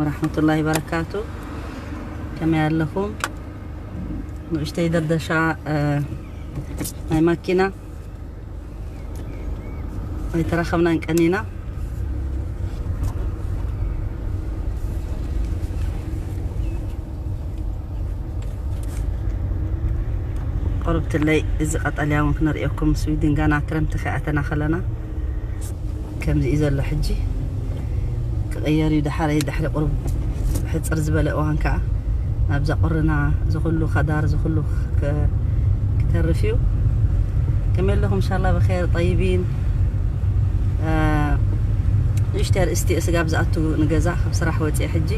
ወራህመቱላሂ በረካቱ ከመይ ኣለኹም ንእሽተይ ደርደሻ ናይ ማኪና ኣይተራኸብናን ቀኒና ቁርብትለይ እዚ ቀጠልያ እውን ክነርእየኩም ስዊድን ገና ክረምቲ ከይኣተና ከለና ከምዚ እዩ ዘሎ ሕጂ ክቅየር እዩ ድሓረይ ድሕሪ ቁሩብ ሕጽር ዝበለ እዋን ከኣ ናብዛ ቁርና ዝኩሉ ከዳር ዝኩሉ ክተርፍ እዩ ከመይ ኣለኹም ኢንሻላ ብኸር ጠይቢን ንእሽተይ ርእስቲ ስጋብ ዝኣቱ ንገዛ ካብ ስራሕ ወፅየ ሕጂ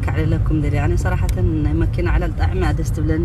ከዕልለኩም ደልየ ኣነ ሰራሕተን ናይ መኪና ዕላል ጣዕሚ እያ ደስ ትብለኒ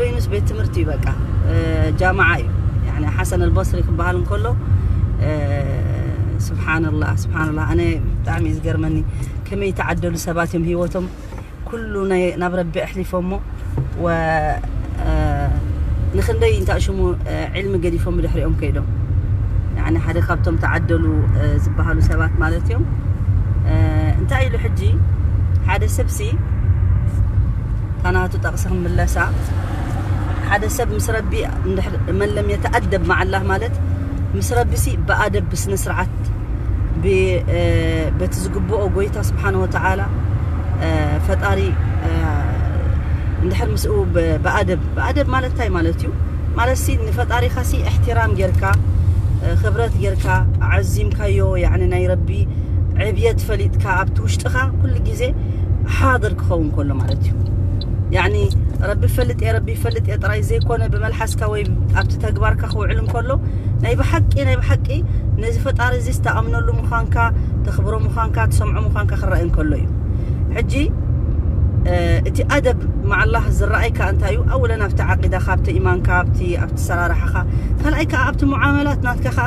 በይኑስ ቤት ትምህርቲ እዩ በቃ ጃማዓ እዩ ያኒ ሓሰን ኣልበስሪ ክበሃል እንከሎ ስብሓንላ ስብሓንላ ኣነ ብጣዕሚ እዩ ዝገርመኒ ከመይ ተዓደሉ ሰባት እዮም ሂወቶም ኩሉ ናብ ረቢ ኣሕሊፎሞ ንክንደይ እንታይ ሽሙ ዕልሚ ገዲፎም ብድሕሪኦም ከይዶም ያኒ ሓደ ካብቶም ተዓደሉ ዝበሃሉ ሰባት ማለት እዮም እንታይ ኢሉ ሕጂ ሓደ ሰብሲ እታ ናቱ ጠቕሲ ክንምለሳ ሓደ ሰብ ምስ ረቢ መን ለም የተኣደብ መዓላህ ማለት ምስ ረቢሲ ብኣደብ ብስነ ስርዓት በቲ ዝግብኦ ጎይታ ስብሓን ወተዓላ ፈጣሪ እንድሕር ምስኡ ብኣደብ ብኣደብ ማለት እንታይ ማለት እዩ ማለት ሲ ንፈጣሪኻ ሲ እሕትራም ጌርካ ክብረት ጌርካ ዓዚምካዮ ናይ ረቢ ዕብየት ፈሊጥካ ኣብቲ ውሽጥኻ ኩሉ ግዜ ሓድር ክኸውን ከሎ ማለት እዩ ያኒ ረቢ ይፈልጥ እየ ረቢ ይፈልጥ እየ ጥራይ ዘይኮነ ብመልሓስካ ወይ ኣብቲ ተግባርካ ክውዕል እንከሎ ናይ ብሓቂ ናይ ብሓቂ ነዚ ፈጣሪ እዚ ዝተኣምነሉ ምዃንካ ተኽብሮ ምዃንካ ትሰምዖ ምዃንካ ክረኣይ እንከሎ እዩ ሕጂ እቲ ኣደብ መዓላህ ዝረኣይካ እንታይ እዩ ኣወለን ኣብቲ ዓቂዳኻ ኣብቲ ኢማንካ ኣብቲ ኣብቲ ሰራርሓኻ ካልኣይ ከዓ ኣብቲ ሙዓመላት ናትካ ከዓ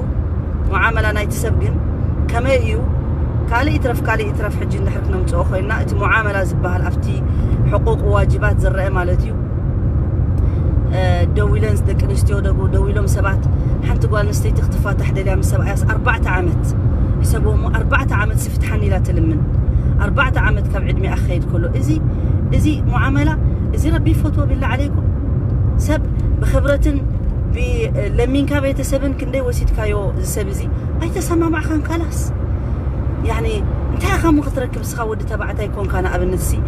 ሙዓመላ ናይቲ ሰብ ግን ከመይ እዩ ካልእ ይትረፍ ካልእ ይትረፍ ሕጂ እንድሕር ክነምፅኦ ኮይንና እቲ ሙዓመላ ዝበሃል ኣብቲ ሕቁቅ ዋጅባት ዝረአ ማለት እዩ ደዊለን ደቂ ኣንስትዮ ደዊሎም ሰባት ሓንቲ ጓል ኣንስተይቲ ክትፋታሕ ደልያ ምስ ሰብኣያስ ኣርባዕተ ዓመት ሕሰብዎ እሞ ኣርባዕተ ዓመት ስፍትሓኒ ኢላ ትልምን ኣርባዕተ ዓመት ካብ ዕድሜኣ ክኸይድ ከሎ እዚ እዚ ሙዓመላ እዚ ረቢ ይፈትዎ ቢላ ዓለይኩም ሰብ ብክብረትን ብለሚንካ ቤት ሰብን ክንደይ ወሲድካዮ እዚ ሰብ እዚ ኣይተሰማማዕካን ካላስ ያኒ እንታይ ኢኻ እሞ ክትረክብ እስኻ ወዲ ተባዕታይ ኮንካ ንኣብነት ሲ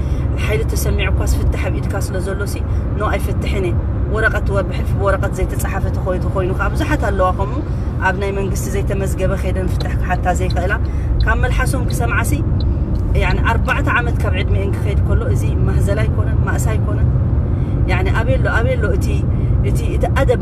ሓይሊ ተሰሚዑኳስ ፍትሕ ኣብ ኢድካ ስለ ዘሎ ሲ ኖ ኣይፍትሕን እየ ወረቐት ወር ብሕልፊ ብወረቐት ዘይተፃሓፈ ተኮይቱ ኮይኑ ከዓ ብዙሓት ኣለዋ ከምኡ ኣብ ናይ መንግስቲ ዘይተመዝገበ ከይደን ፍትሕ ክሓታ ዘይክእላ ካብ መልሓሶም ክሰምዓ ሲ ያኒ ኣርባዕተ ዓመት ካብ ዕድሜአን ክኸይድ ከሎ እዚ ማህዘላ ኣይኮነን ማእሳ ኣይኮነን ያኒ ኣበሎ ኣበሎ እቲ እቲ እቲ ኣደብ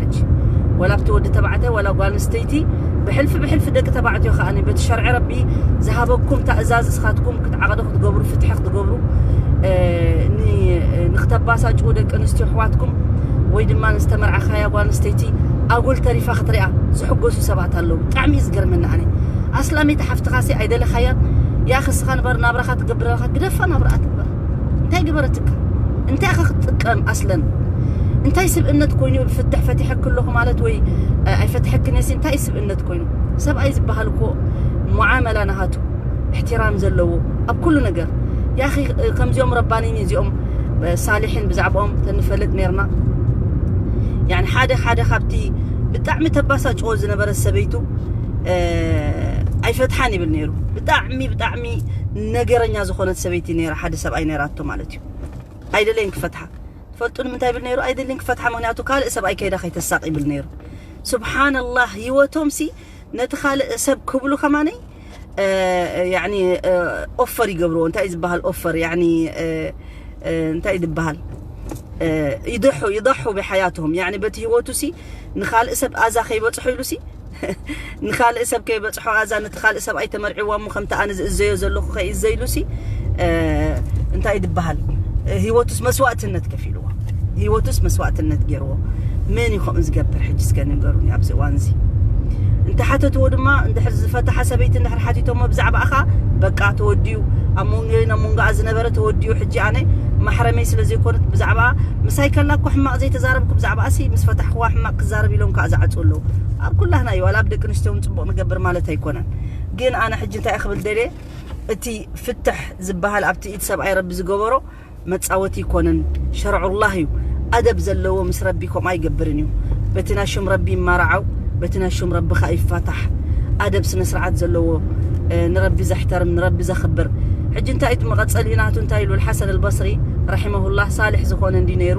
ሕጂ ዋላ ኣብቲ ወዲ ተባዕታይ ዋላ ጓል ኣንስተይቲ ብሕልፊ ብሕልፊ ደቂ ተባዕትዮ ከኣ በቲ ሸርዒ ረቢ ዝሃበኩም ታእዛዝ እስኻትኩም ክትዓቕዱ ክትገብሩ ፍትሒ ክትገብሩ ንክተባሳጭዉ ደቂ ኣንስትዮ ኣሕዋትኩም ወይ ድማ ዝተመርዓኻያ ጓል ኣንስተይቲ ኣጉል ተሪፋ ክትሪኣ ዝሕጎሱ ሰባት ኣለዉ ብጣዕሚ እዩ ዝገርመኒ ኣነ ኣስላመይቲ ሓፍትኻሲ ኣይደለኻያን ያኺ እስኻ ንበር ናብራኻ ትገብር ኣለኻ ግደፋ ናብራኣ ትግበር እንታይ ገበረትካ እንታይ ኢኻ ክትጥቀም ኣስለን እንታይ ስብእነት ኮይኑ ብ ፍትሕ ፈቲሐኪ ኣለኹ ማለት ወይ ኣይፈትሐክን እየሲ እንታይ ስብእነት ኮይኑ ሰብኣይ ዝበሃል እኮ ሙዓመላ ናሃቱ እሕትራም ዘለዎ ኣብ ኩሉ ነገር ያኺ ከምዚኦም ረባኒን እዚኦም ሳሊሕን ብዛዕባኦም ተንፈልጥ ነርና يعني ሓደ ሓደ ካብቲ ብጣዕሚ ተባሳጭዎ ዝነበረ ሰበይቱ ኣይፈትሓን ይብል ነይሩ ብጣዕሚ ብጣዕሚ ብጣዕሚ ነገረኛ ዝኾነት ሰበይቲ ነይራ ሓደ ሰብኣይ ነይራቶ ማለት እዩ ኣይደለይን ክፈትሓ ትፈልጡ ንምንታይ ይብል ነይሩ ኣይደልን ክፈትሓ ምክንያቱ ካልእ ሰብኣይ ከይዳ ከይተሳቅ ይብል ነይሩ ስብሓንላህ ህይወቶም ሲ ነቲ ካልእ ሰብ ክብሉ ከማነይ ኦፈር ይገብርዎ እንታይ እዩ ዝበሃል ኦፈር እንታይ እዩ ዝበሃል ይደሑ ይደሑ ብሓያትም በቲ ህይወቱ ሲ ንካልእ ሰብ ኣዛ ከይበፅሑ ኢሉ ሲ ንካልእ ሰብ ከይበጽሖ ኣዛ ነቲ ካልእ ሰብኣይ ተመርዒዋ እሞ ከምቲ ኣነ ዝእዘዮ ዘለኹ ከይእዘይሉሲ እንታይ ድበሃል ህይወቱስ መስዋእትነት ከፊልዎ ህይወቱስ መስዋእትነት ገይርዎ መን እዩ ከምኡ ዝገብር ሕጂ እስከ ንገሩኒ ኣብዚ እዋን እዚ እንተሓተትዎ ድማ እንድሕር ዝፈታሓ ሰበይቲ እንድሕር ሓቲቶሞ ብዛዕባኣ ኸዓ በቃ ተወዲኡ ኣብ መንጎይን ኣብ መንጎኣ ዝነበረ ተወዲኡ ሕጂ ኣነ ማሕረመይ ስለ ዘይኮነት ብዛዕባ ምሳይ ከላ እኮ ሕማቕ ዘይተዛረብኩ ብዛዕባኣሲ ምስ ፈታሕክዋ ሕማቕ ክዛረብ ኢሎም ከዓ ዝዓፁ ኣለዉ ኣብ ኩላህና እዩ ዋላ ኣብ ደቂ ኣንስትዮ እውን ፅቡቅ ንገብር ማለት ኣይኮነን ግን ኣነ ሕጂ እንታይ ክብል ደልየ እቲ ፍትሕ ዝበሃል ኣብቲ ኢድ ሰብኣይ ረቢ ዝገበሮ መፃወቲ ይኮንን ሸርዑላህ እዩ ኣደብ ዘለዎ ምስ ረቢ ከምኡ ኣይገብርን እዩ በቲ ናይ ሹም ረቢ ይማራዓው በቲ ናይ ሹም ረቢ ከዓ ይፋታሕ ኣደብ ስነ ስርዓት ዘለዎ ንረቢ ዘሕተርም ንረቢ ዘኽብር ሕጂ እንታይ እቲ መቐፀሊ ናቱ እንታይ ኢሉ ሓሰን ኣልበስሪ ረሒመሁላህ ሳልሕ ዝኾነ እንዲ ነይሩ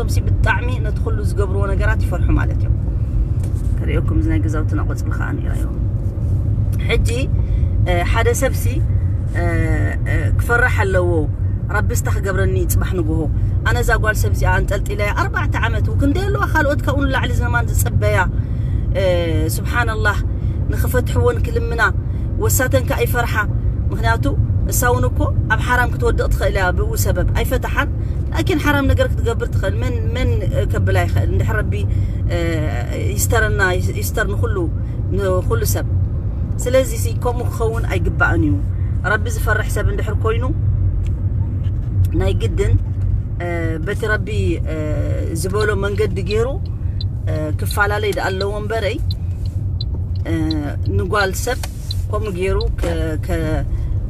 እዚኦምሲ ብጣዕሚ ነቲ ኩሉ ዝገብርዎ ነገራት ይፈርሑ ማለት እዮም ከርእየኩም እዚ ናይ ገዛውትና ቆፅሊ ከዓ ነይራዮ ሕጂ ሓደ ሰብሲ ክፈራሕ ኣለዎ ረቢ ስታ ክገብረኒ ፅባሕ ንግሆ ኣነ እዛ ጓል ሰብ እዚኣ ኣንጠልጢለያ ኣርባዕተ ዓመት ክንደይ ኣለዋ ካልኦት ካብኡ ንላዕሊ ዝነማን ዝፅበያ ስብሓንላህ ንክፈትሕዎን ክልምና ወሳተን ከዓ ይፈርሓ ምክንያቱ እሳ እውን እኮ ኣብ ሓራም ክትወድቕ ትኽእል እያ ብኡ ሰበብ ኣይፈትሓን ላኪን ሓራም ነገር ክትገብር ትኽእል መን መን ከብላ ይኽእል እንድሕር ረቢ ይስተረና ይስተር ንኹሉ ንኹሉ ሰብ ስለዚ ሲ ከምኡ ክኸውን ኣይግባእን እዩ ረቢ ዝፈርሕ ሰብ እንድሕር ኮይኑ ናይ ግድን በቲ ረቢ ዝበሎ መንገዲ ገይሩ ክፈላለይ ዳኣ ኣለዎ እምበረይ ንጓል ሰብ ከምኡ ገይሩ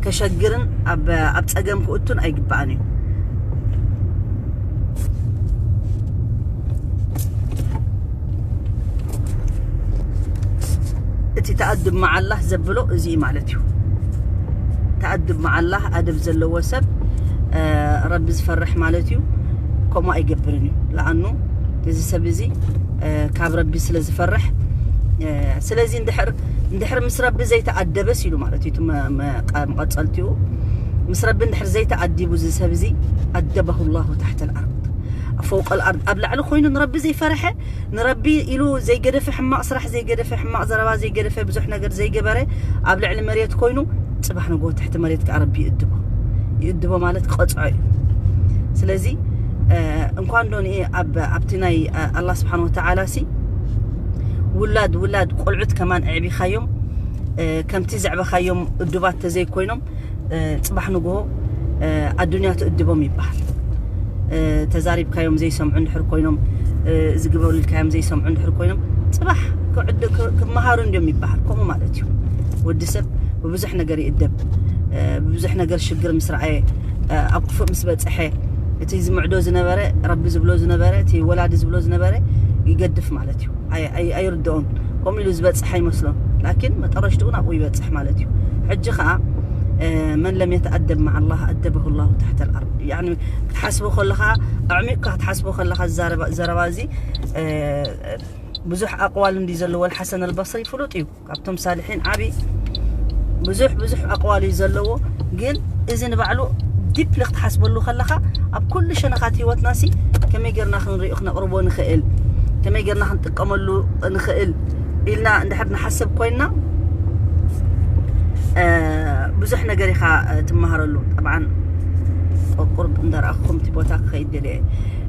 ከሸግርን ኣብ ፀገም ክእቱን ኣይግባእን እዩ እቲ ተኣድብ መዓላህ ዘብሎ እዚ ማለት እዩ ተኣድብ መዓላህ ኣደብ ዘለዎ ሰብ ረቢ ዝፈርሕ ማለት እዩ ከምኡ ኣይገብርን እዩ ለኣኑ እዚ ሰብ እዚ ካብ ረቢ ስለ ዝፈርሕ ስለዚ እንድሕር እንድሕር ምስ ረቢ ዘይተኣደበስ ኢሉ ማለት እዩ መቐጸልቲኡ ምስ ረቢ እንድሕር ዘይተኣዲቡ እዚ ሰብ እዚ ኣደበሁ ላሁ ታሕተ ልኣርድ ኣብ ፈውቀ ልኣርድ ኣብ ላዕሊ ኮይኑ ንረቢ ዘይፈርሐ ንረቢ ኢሉ ዘይገደፈ ሕማቕ ስራሕ ዘይገደፈ ሕማቕ ዘረባ ዘይገደፈ ብዙሕ ነገር ዘይገበረ ኣብ ልዕሊ መሬት ኮይኑ ፅባሕ ንጎ ትሕቲ መሬት ከዓ ረቢ ይእድቦ ይእድቦ ማለት ቀፅዖ እዩ ስለዚ እንኳን ዶን ኣብ ኣብቲ ናይ ኣላ ስብሓን ወተዓላ ሲ ውላድ ውላድ ቆልዑት ከማን ኣዕቢኻዮም ከምቲ ዘዕበኻዮም እዱባት ተዘይኮይኖም ፅባሕ ንግሆ ኣዱንያ ትእድቦም ይበሃል ተዛሪብካዮም ዘይሰምዑ እንድሕር ኮይኖም ዝግበሩ ኢልካዮም ዘይሰምዑ እንድሕር ኮይኖም ፅባሕ ክመሃሩ እንዲዮም ይበሃል ከምኡ ማለት እዩ ወዲ ሰብ ብብዙሕ ነገር ይእደብ ብብዙሕ ነገር ሽግር ምስ ረኣየ ኣብ ክፉእ ምስ በፅሐ እቲ ዝምዕዶ ዝነበረ ረቢ ዝብሎ ዝነበረ እቲ ወላዲ ዝብሎ ዝነበረ ይገድፍ ማለት እዩ ኣይርድኦን ከምኡ ኢሉ ዝበፅሕ ኣይመስሎን ላኪን መጠረሽትኡ ናብኡ ይበፅሕ ማለት እዩ ሕጂ ከዓ መን ለም የተኣደብ ማዓ ላህ ኣደበሁ ላሁ ታሕተ ልኣርድ ያኒ ክትሓስቦ ከለኻ ኣዕሚቕካ ክትሓስቦ ከለኻ ዘረባ እዚ ብዙሕ ኣቕዋል እንዲ ዘለዎ ሓሰን ኣልበስሪ ፍሉጥ እዩ ካብቶም ሳልሒን ዓቢ ብዙሕ ብዙሕ ኣቕዋል እዩ ዘለዎ ግን እዚ ንባዕሉ ዲፕሊ ክትሓስበሉ ከለኻ ኣብ ኩሉ ሸነኻት ህይወትና ሲ ከመይ ጌርና ክንሪኦ ክነቕርቦ ንኽእል ከመይ ጌርና ክንጥቀመሉ ንኽእል ኢልና እንድሕር ንሓስብ ኮይንና ብዙሕ ነገር ኢኻ ትመሃረሉ ጠብዓን ቁርብ እንዳረኣኹም እቲ ቦታ ክኸይድ ደልየ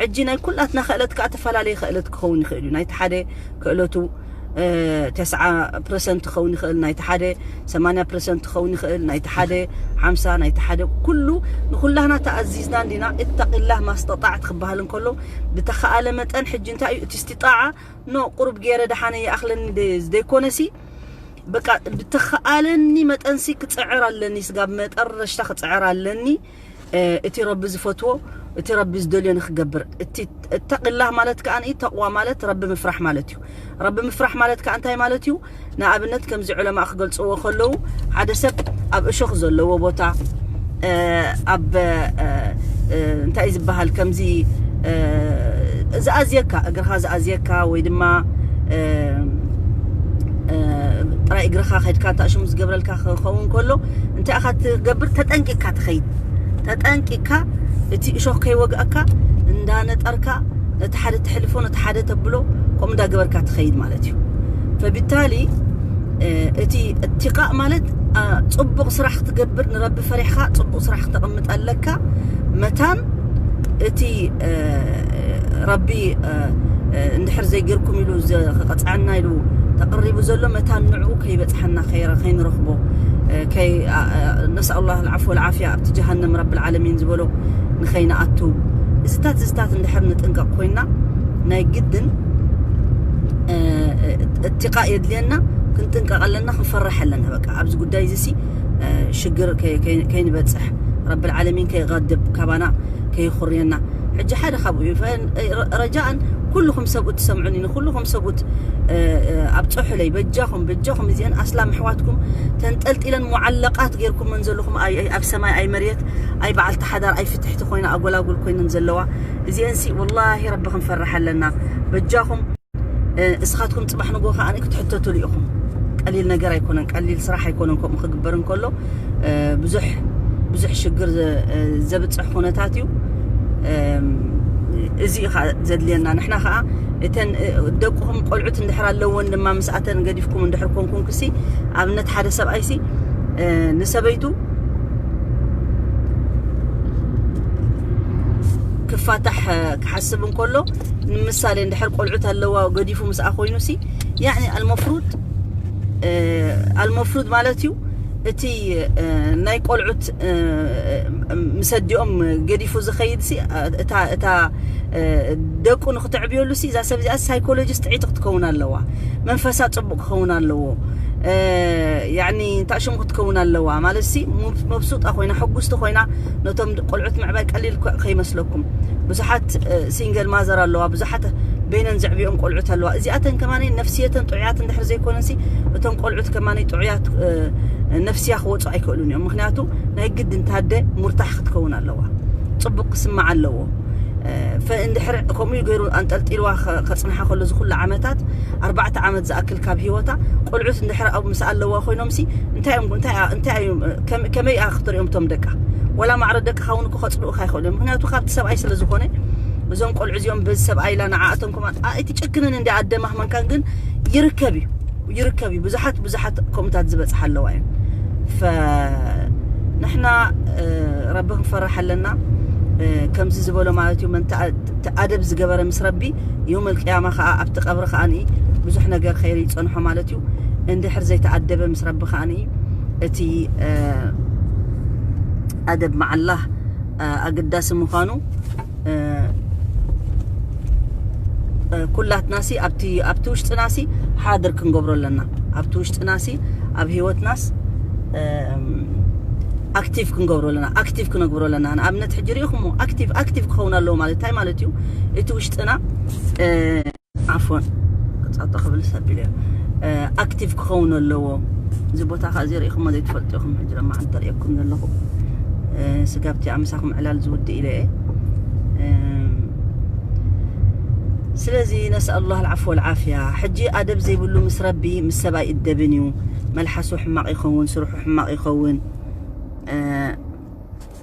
ሕጂ ናይ ኩላትና ክእለት ከኣ ተፈላለየ ክእለት ክኸውን ይኽእል እዩ ናይቲ ሓደ ክእለቱ ተስዓ ፕረሰንት ክኸውን ይኽእል ናይቲ ሓደ ሰማንያ ፕረሰንት ክኸውን ይኽእል ናይቲ ሓደ ሓምሳ ናይቲ ሓደ ኩሉ ንኩላህና ተኣዚዝና እንዲና እተቂላህ ማስተጣዕት ክበሃል እንከሎ ብተኸኣለ መጠን ሕጂ እንታይ እዩ እቲ ስቲጣዓ ኖ ቁሩብ ገይረ ደሓነ ይኣኽለኒ ዘይኮነሲ በቃ ብተኸኣለኒ መጠንሲ ክፅዕር ኣለኒ ስጋብ መጠረሽታ ክፅዕር ኣለኒ እቲ ረቢ ዝፈትዎ እቲ ረቢ ዝደልዮ ንክገብር እቲ እተቂላህ ማለት ከኣ ተቅዋ ማለት ረቢ ምፍራሕ ማለት እዩ ረቢ ምፍራሕ ማለት ከኣ እንታይ ማለት እዩ ንኣብነት ከምዚ ዑለማእ ክገልጽዎ ከለዉ ሓደ ሰብ ኣብ እሾኽ ዘለዎ ቦታ ኣብ እንታይ እዩ ዝበሃል ከምዚ ዝኣዝየካ እግርኻ ዝኣዝየካ ወይ ድማ ጥራይ እግርኻ ከድካ ታእሽሙ ዝገብረልካ ክኸውን ከሎ እንታይ ኢኻ ትገብር? ተጠንቂቕካ ትኸይድ። ተጠንቂቕካ እቲ እሾኽ ከይወግኣካ እንዳነጠርካ ነቲ ሓደ ተሕልፎ ነቲ ሓደ ተብሎ ከምኡ እንዳገበርካ ትኸይድ ማለት እዩ። ፈቢታሊ እቲ እትቃእ ማለት ጽቡቕ ስራሕ ክትገብር ንረቢ ፈሪሕካ ጽቡቕ ስራሕ ክተቕምጥ ኣለካ መታን እቲ ረቢ እንድሕር ዘይገርኩም ኢሉ ክቐፅዐና ኢሉ ተቕሪቡ ዘሎ መታን ንዕኡ ከይበፅሐና ከይንረኽቦ ነስኣላ ልዓፍ ወልዓፍያ ኣብቲ ጀሃንም ረቢ ልዓለሚን ዝበሎ ንኸይንኣቱ እዚታት እዚታት እንድሕር ንጥንቀቕ ኮይና ናይ ግድን እትቃ የድልየና ክንጥንቀቕ ኣለና ክንፈርሕ ኣለና በቃ ኣብዚ ጉዳይ እዚሲ ሽግር ከይንበፅሕ ረቢ ልዓለሚን ከይቐድብ ካባና ከየኹርየና ሕጂ ሓደ ካብኡ እዩ ረጃእን ኩልኹም ሰብኡት ትሰምዑኒ ንኩልኹም ሰብኡት ኣብፀሑለይ በጃኹም በጃኹም እዚአን ኣስላም ኣሕዋትኩም ተንጠልጢለን ሙዓለቃት ጌርኩመን ዘለኹም ኣብ ሰማይ ኣይ መሬት ኣይ በዓልቲ ሓዳር ኣይ ፍትሕቲ ኮይና ኣጎላጉል ኮይነን ዘለዋ እዚአንሲ ወላሂ ረቢ ክንፈርሕ ኣለና በጃኹም እስኻትኩም ጽባሕ ንግሆ ከኣ ክትሕተቱሉ ኢኹም ቀሊል ነገር ኣይኮነን ቀሊል ስራሕ ኣይኮነን ከምኡ ክግበር እንከሎ ብዙሕ ብዙሕ ሽግር ዘብጽሕ ኩነታት እዩ እዚ እዩ ከዓ ዘድልየና ንሕና ከዓ እተን ደቅኹም ቆልዑት እንድሕር ኣለዎን ድማ ምስኣተን ገዲፍኩም እንድሕር ኮንኩም ክሲ ኣብነት ሓደ ሰብኣይሲ ንሰበይቱ ክፋታሕ ክሓስብ እንከሎ ንምሳሌ እንድሕር ቆልዑት ኣለዋ ገዲፉ ምስኣ ኮይኑ ሲ ያኒ ኣልመፍሩድ ኣልመፍሩድ ማለት እዩ እቲ ናይ ቆልዑት ምስ ኣዲኦም ገዲፉ ዝኸይድ ሲ እታ እታ ደቁ ንክተዕብየሉ ሲ እዛ ሰብ እዚኣ ሳይኮሎጂስ ጥዒቲ ክትከውን ኣለዋ መንፈሳ ፅቡቅ ክኸውን ኣለዎ ያኒ እንታይ ሽሙ ክትከውን ኣለዋ ማለት ሲ መብሱጣ ኮይና ሕጉስቲ ኮይና ነቶም ቆልዑት ምዕባይ ቀሊል ከይመስለኩም ብዙሓት ሲንገል ማዘር ኣለዋ ብዙሓት በይነን ዘዕብኦም ቆልዑት ኣለዋ እዚኣተን ከማኒ ነፍስየተን ጥዑያት እንድሕር ዘይኮነሲ እቶም ቆልዑት ከማኒ ጥዑያት ነፍስያ ክወፁ ኣይክእሉን እዮም ምክንያቱ ናይ ግድ እንታደ ሙርታሕ ክትከውን ኣለዋ ፅቡቅ ክስማዕ ኣለዎ እንድሕር ከምኡ ገይሩ ኣንጠልጢልዋ ከፅንሓ ከሎ ዝኩሉ ዓመታት ኣርባዕተ ዓመት ዝኣክል ካብ ሂወታ ቆልዑት እንድሕር ኣብ ምስ ኣለዋ ኮይኖምሲ እንታይ እዮም እንታይ እንታይ እዮም ከመይ እያ ክትሪኦም እቶም ደቃ ወላ ማዕረ ደቅኻ እውን እኮ ከጽልኡካ ይኽእሉ እዮም ምክንያቱ ካብቲ ሰብኣይ ስለ ዝኾነ እዞም ቆልዑ እዚኦም በዚ ሰብኣይ ኢላ ንዓ እቶም ኮማ እቲ ጨክንን እንዲ ኣደማህመንካን ግን ይርከብ እዩ ይርከብ እዩ ብዙሓት ብዙሓት ከምኡታት ዝበጽሓ ኣለዋ እየን ፈንሕና ረቢ ክንፈርሕ ኣለና ከምዚ ዝበሎ ማለት እዩ ኣደብ ዝገበረ ምስ ረቢ የውመል ቅያማ ከኣ ኣብቲ ቀብሪ ከኣ ብዙሕ ነገር ኸይሪ ይጸንሖ ማለት እዩ እንድሕር ዘይተኣደበ ምስ ረቢ ከኣ እቲ ኣደብ መዓላህ ኣገዳሲ ምዃኑ ኩላትናሲ ኣብቲ ኣብቲ ውሽጥናሲ ሓድር ክንገብሮ ኣለና ኣብቲ ውሽጥናሲ ኣብ ሂወትናስ ኣክቲቭ ክንገብሮ ኣለና ኣክቲቭ ክነግብሮ ኣለና ማለት ሕጂ ሪኢኹሞ ኣክቲቭ ኣክቲቭ ክኸውን ኣለዎ ማለት እንታይ ማለት እዩ እቲ ውሽጥና ዓፎን ክጻጦ ክብል ሰቢሉ እዩ ኣክቲቭ ክኸውን ኣለዎ እዚ ቦታ ከ እዚ ሪኢኹሞ ዘይትፈልጡ ኢኹም ሕጂ ድማ ዓንተ ሪእኩም ዘለኹ ስጋብቲ ኣምሳኹም ዕላል ዝውድእ ኢለ እየ ስለዚ ነስኣሉ ላህ ልዓፍ ወልዓፍያ ሕጂ ኣደብ ዘይብሉ ምስ ረቢ ምስ ሰብ ኣይእደብን እዩ መልሓሱ ሕማቕ ይኸውን ስርሑ ሕማቕ ይኸውን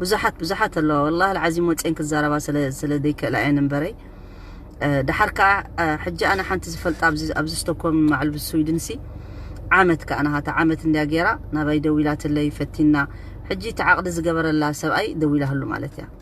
ብዙሓት ብዙሓት ኣለዋ ወላ ዓዚም ወፅን ክዛረባ ስለ ዘይክእላ እየን እምበረይ ድሓር ከዓ ሕጂ ኣነ ሓንቲ ዝፈልጣ ኣብዚ ስቶኮም ማዕል ስዊድን ሲ ዓመት ከዓ ናሃታ ዓመት እንዲያ ገይራ ናባይ ደዊላትለይ ፈቲና ሕጂ እቲ ዓቕዲ ዝገበረላ ሰብኣይ ደዊላህሉ ማለት እያ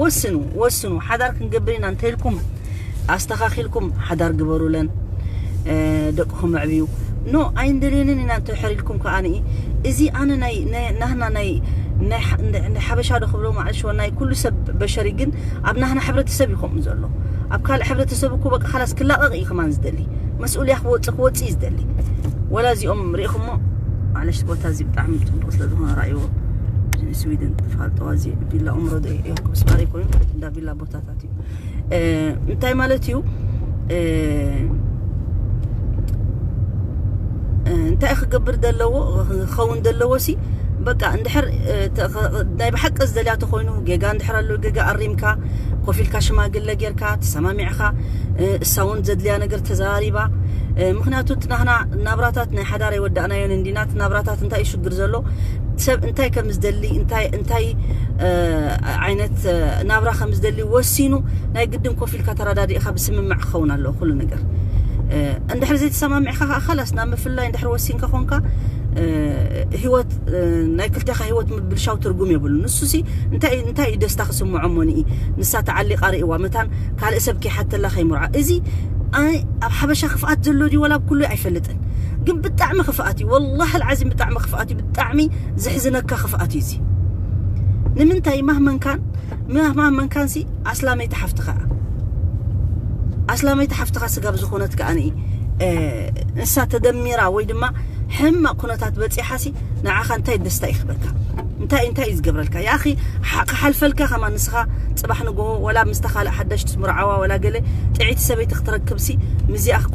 ወስኑ ወስኑ ሓዳር ክንገብር ኢና እንተልኩም ኣስተኻኺልኩም ሓዳር ግበሩለን ደቅኹም ኣዕብዩ ኖ ኣይንደልየንን ኢና እንተሕሪልኩም ከኣ እዚ ኣነ ናይ ናህና ናይ ንሓበሻ ዶ ክብሎ ማዕልሽዎ ናይ ኩሉ ሰብ በሸሪ ግን ኣብ ናህና ሕብረተሰብ እዩ ከምኡ ዘሎ ኣብ ካልእ ሕብረተሰብ እኮ በቃ ካላስ ክላቐቕ እዩ ከማን ዝደሊ መስኡልያ ክወፅእ ክወፅእ እዩ ዝደሊ ወላ እዚኦም ሪኢኹሞ ማዕለሽ ቦታ እዚ ብጣዕሚ ፅቡቕ ስለ ዝኾነ ራእይዎ ስዊድን ፋልጠዋ እዚ ቪላ ኡምሮ ዶ ኤርኩብስ ባሪ ኮይኑ ማለት እንዳ ቪላ ቦታታት እዩ እንታይ ማለት እዩ እንታይ ክገብር ዘለዎ ክኸውን ዘለዎ ሲ በቃ እንድሕር ናይ ብሓቂ ዝደልያ ተኮይኑ ጌጋ እንድሕር ኣሎ ጌጋ ኣሪምካ ኮፍ ኢልካ ሽማግለ ጌርካ ተሰማሚዕካ እሳ እውን ዘድልያ ነገር ተዘራሪባ ምክንያቱ እቲ ናህና ናብራታት ናይ ሓዳር የወዳእናዮን እንዲና እቲ ናብራታት እንታይ እዩ ሽግር ዘሎ ሰብ እንታይ ከም ዝደሊ እንታይ እንታይ ዓይነት ናብራ ከም ዝደሊ ወሲኑ ናይ ግድን ኮፍ ኢልካ ተረዳዲእኻ ብስምምዕ ክኸውን ኣለዎ ኩሉ ነገር እንድሕር ዘይተሰማሚዕካ ከዓ ከላስ ናብ ምፍላይ እንድሕር ወሲንካ ኮንካ ህይወት ናይ ክልቴኻ ህይወት ምብልሻው ትርጉም የብሉ ንሱ ሲ እንታይ እንታይ እዩ ደስታ ክስምዖ ሞኒ ንሳ ተዓሊቃ ርእዋ መታን ካልእ ሰብ ከይሓተላ ከይምርዖ እዚ ኣብ ሓበሻ ክፍኣት ዘሎ ድዩ ወላ ኣብ ኩሉ ኣይፈልጥን ግን ብጣዕሚ ክፍኣት እዩ ወላሂ ልዓዚም ብጣዕሚ ክፍኣት እዩ ብጣዕሚ ዝሕዝነካ ክፍኣት እዩ እዚ ንምንታይ ማህመንካን ማህመንካን ሲ ኣስላመይቲ ሓፍትኻ ኣስላመይቲ ሓፍትኻ ስጋብ ዝኾነት ከኣኒ ንሳ ተደሚራ ወይ ድማ ሕማቕ ኩነታት በፂሓ ሲ ንዓኻ እንታይ ደስታ ይኽበካ እንታይ እንታይ እዩ ዝገብረልካ ያኺ ክሓልፈልካ ከማ ንስኻ ፅባሕ ንግሆ ወላ ምስታ ካልእ ሓዳሽ ትምርዓዋ ወላ ገለ ጥዒቲ ሰበይቲ ክትረክብሲ ምዚኣ ክኳ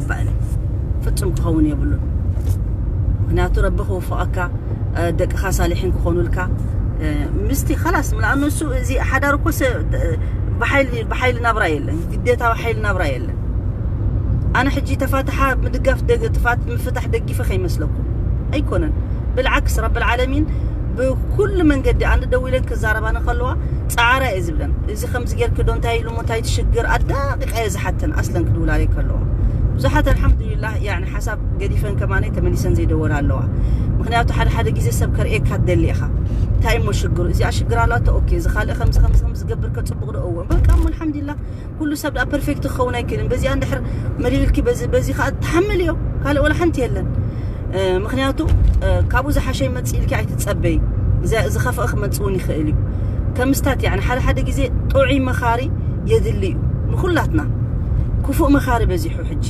ይግባእ እዩ ፍጹም ክኸውን የብሉን ምክንያቱ ረቢ ክውፍቐካ ደቅኻ ሳሊሒን ክኾኑልካ ምስቲ ኸላስ ምልኣኑ እሱ እዚ ሓዳር እኮ ብሓይሊ ናብራ የለን ግዴታዊ ሓይሊ ናብራ የለን ኣነ ሕጂ ተፋትሓ ምድጋፍ ጥፋት ምፍታሕ ደጊፈ ከይመስለኩም ኣይኮነን ብልዓክስ ረቢ ልዓለሚን ብኩሉ መንገዲ ኣንድ ደው ኢለን ክዛረባኒ ከለዋ ፃዕራ እየ ዝብለን ሓፍቲ ከምዚ ጌርኪ ዶ እንታይ ኢሉ እንታይ ትሽግር ኣዳቂቃ እየ ዝሓተን ኣስለን ክድውላለይ ከለዋ ብዙሓት ኣልሓምዱሊላህ ያኒ ሓሳብ ገዲፈን ከማነይ ተመሊሰን ዘይደወላ ኣለዋ ምክንያቱ ሓደ ሓደ ግዜ ሰብ ከርእየካ ትደሊ ኢኻ እንታይ እሞ ሽግሩ እዚኣ ሽግር ኣላቶ ኦኬ እዚ ካልእ ከምዚ ከምዚ ከምዚ ዝገብር ከፅቡቕ ዶ እዎ በቃ እሞ ኣልሓምዱሊላህ ኩሉ ሰብ ደኣ ፐርፌክት ክኸውን ኣይክእልን በዚኣ እንድሕር መሊልኪ በዚ በዚ ከዓ ትሓምል እዮ ካልእ ወላ ሓንቲ የለን ምክንያቱ ካብኡ ዝሓሸ ይመፅእ ኢልኪ ኣይትፀበይ ዝኸፍአ ክመፅእ እውን ይኽእል እዩ ከምስታት ያ ሓደ ሓደ ግዜ ጥዑይ መኻሪ የድሊ እዩ ንኩላትና ክፉእ መኻሪ በዚሑ ሕጂ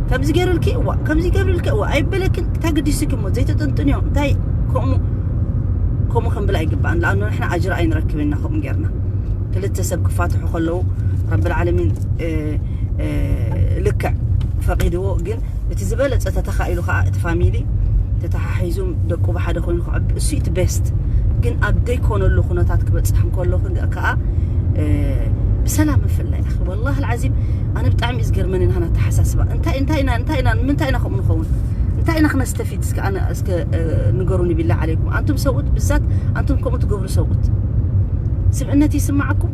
ከምዚ ገይሩልኪ እዋ ከምዚ ገብርልኪ እዋ ኣይበለክን እንታይ ግዲስኪ እሞ ዘይተጠንጥንዮ እንታይ ከምኡ ከምኡ ክንብል ኣይግባእን ንኣኑ ንሕና ኣጅር ኣይንረክብን ኢና ከምኡ ጌርና ክልተ ሰብ ክፋትሑ ከለዉ ረብልዓለሚን ልክዕ ፈቒድዎ ግን እቲ ዝበለጸ ተተኻኢሉ ከኣ እቲ ፋሚሊ ተተሓሒዙ ደቁ ብሓደ ኮይኑ ክዕቢ እሱ እቲ ቤስት ግን ኣብ ዘይኮነሉ ኩነታት ክበጽሕ እንከሎ ከኣ ብሰላም ምፍላይ ኣኺ ወላሂ ልዓዚም ኣነ ብጣዕሚ እዩ ዝገርመኒ ናህና ኣተሓሳስባ እንታይ እንታይ ኢና እንታይ ኢና ንምንታይ ኢና ከምኡ ንኸውን እንታይ ኢና ክነስተፊድ እስከ ኣነ እስከ ንገሩኒ ቢላ ዓለይኩም ኣንቱም ሰብኡት ብዛት ኣንቱም ከምኡ ትገብሩ ሰብኡት ስብእነት ይስማዓኩም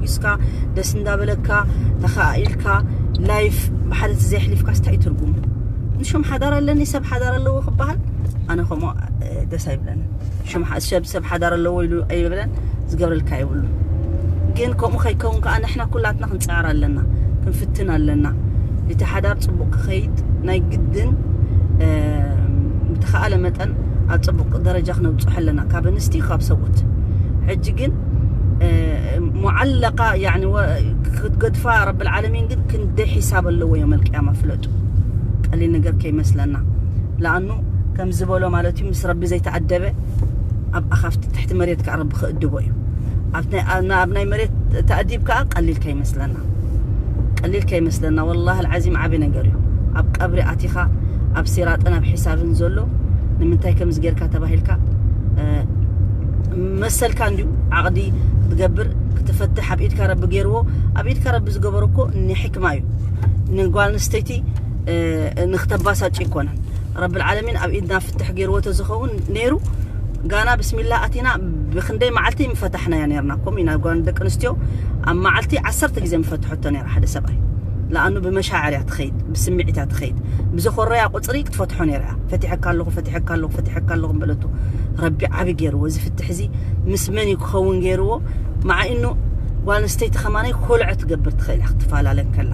ተሓጒስካ ደስ እንዳበለካ ተኸኣኢልካ ላይፍ ብሓደቲ ዘየሕሊፍካ ስታይ ትርጉሙ ንሹም ሓዳር ኣለኒ ሰብ ሓዳር ኣለዎ ክበሃል ኣነ ከምኡ ደስ ኣይብለኒ ሰብ ሓዳር ኣለዎ ኢሉ ኣይብለን ዝገብረልካ የብሉ ግን ከምኡ ከይከውን ከዓ ንሕና ኩላትና ክንፅዕር ኣለና ክንፍትን ኣለና እቲ ሓዳር ፅቡቅ ክኸይድ ናይ ግድን ብተኸኣለ መጠን ኣብ ፅቡቅ ደረጃ ክነብፅሖ ኣለና ካብ ኣንስቲ ካብ ሰብኡት ሕጂ ግን ሙዓለቃ ያኒ ክትገድፋ ረብል ዓለሚን ግን ክንደይ ሒሳብ ኣለዎ ዮም ኣልቅያማ ፍለጡ ቀሊል ነገር ከይመስለና ለኣኑ ከም ዝበሎ ማለት እዩ ምስ ረቢ ዘይተኣደበ ኣብ ኣኻፍቲ ትሕቲ መሬት ከዓ ረቢ ክእድቦ እዩ ኣብ ናይ መሬት ተኣዲብ ከዓ ቀሊል ከይመስለና ቀሊል ከይመስለና ወላሂ ልዓዚም ዓብዪ ነገር እዩ ኣብ ቀብሪ ኣቲኻ ኣብ ሲራጥን ኣብ ሒሳብን ዘሎ ንምንታይ ከምዚ ጌርካ ተባሂልካ መሰልካ እንድዩ ዓቕዲ ክትገብር ክትፈትሕ ኣብ ኢድካ ረቢ ገይርዎ ኣብ ኢድካ ረቢ ዝገበሮ እኮ ንሕክማ እዩ ንጓል ኣንስተይቲ ንክተባሳጭ ኣይኮነን ረቢ ልዓለሚን ኣብ ኢድና ፍትሕ ገይርዎ ተዝኸውን ነይሩ ጋና ብስሚላ ኣቲና ብክንደይ መዓልቲ ምፈታሕናያ ነርና ኮም ኢና ጓን ደቂ ኣንስትዮ ኣብ መዓልቲ ዓሰርተ ግዜ ምፈትሐቶ ነራ ሓደ ሰብኣይ ለኣኑ ብመሻዕር እያ ትኸይድ ብስምዒት እያ ትኸይድ ብዘኾረያ ቁፅሪ ክትፈትሖ ነራ እያ ፈቲሐካ ኣለኹ ፈትሐካ ኣለኹ ፈትሐካ ኣለኹ በለቶ ረቢ ዓቢ ገይርዎ እዚ ፍትሕ እዚ ምስ መን እዩ ክኸውን ገይርዎ መዓ ኢኖ ጓል ኣንስተይቲ ከማናይ ኮልዐ ትገብር ትኽእል እያ ክትፈላለ ከላ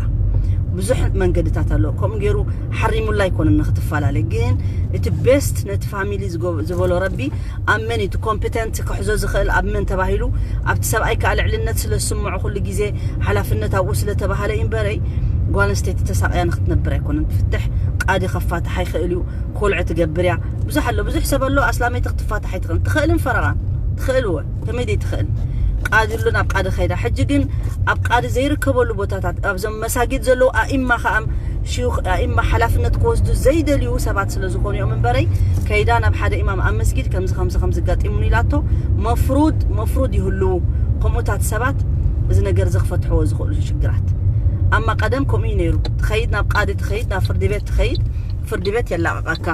ብዙሕ መንገድታት ኣሎ ከምኡ ገይሩ ሓሪሙላ ኣይኮነን ንክትፈላለ ግን እቲ ቤስት ነቲ ፋሚሊ ዝበሎ ረቢ ኣብ መን እቲ ኮምፕተንት ክሕዞ ዝኽእል ኣብ መን ተባሂሉ ኣብቲ ሰብኣይ ከዓ ልዕልነት ስለ ዝስምዖ ኩሉ ግዜ ሓላፍነት ኣብኡ ስለተባሃለ እዩ እምበረይ ጓል ኣንስተይቲ ተሳቅያ ንክትነብር ኣይኮነን ፍትሕ ቃዲ ከፋትሓ ይኽእል እዩ ኮልዐ ትገብር እያ ብዙሕ ኣሎ ብዙሕ ሰብ ኣሎ ኣስላመይቲ ክትፋታሕ ኣይትኽእልን ትኽእልን ፈረቓን ትኽእል እወ ከመይ ዘይትኽእል ቃዲ ኣሎ ናብ ቃዲ ከይዳ ሕጂ ግን ኣብ ቃዲ ዘይርከበሉ ቦታታት ኣብዞም መሳጊድ ዘለዉ ኣኢማ ከዓ ሽዩኽ ኣኢማ ሓላፍነት ክወስዱ ዘይደልዩ ሰባት ስለ ዝኾኑ እዮም እምበረይ ከይዳ ናብ ሓደ ኢማም ኣብ መስጊድ ከምዚ ከምዚ ከምዚ ኣጋጢሙኒ ኢላቶ መፍሩድ መፍሩድ ይህልዉ ከምኡታት ሰባት እዚ ነገር እዚ ክፈትሕዎ ዝኽእሉ ሽግራት ኣማ ቀደም ከምኡ እዩ ነይሩ ትኸይድ ናብ ቃዲ ትኸይድ ናብ ፍርዲ ቤት ትኸይድ ፍርድቤት የላቕቐካ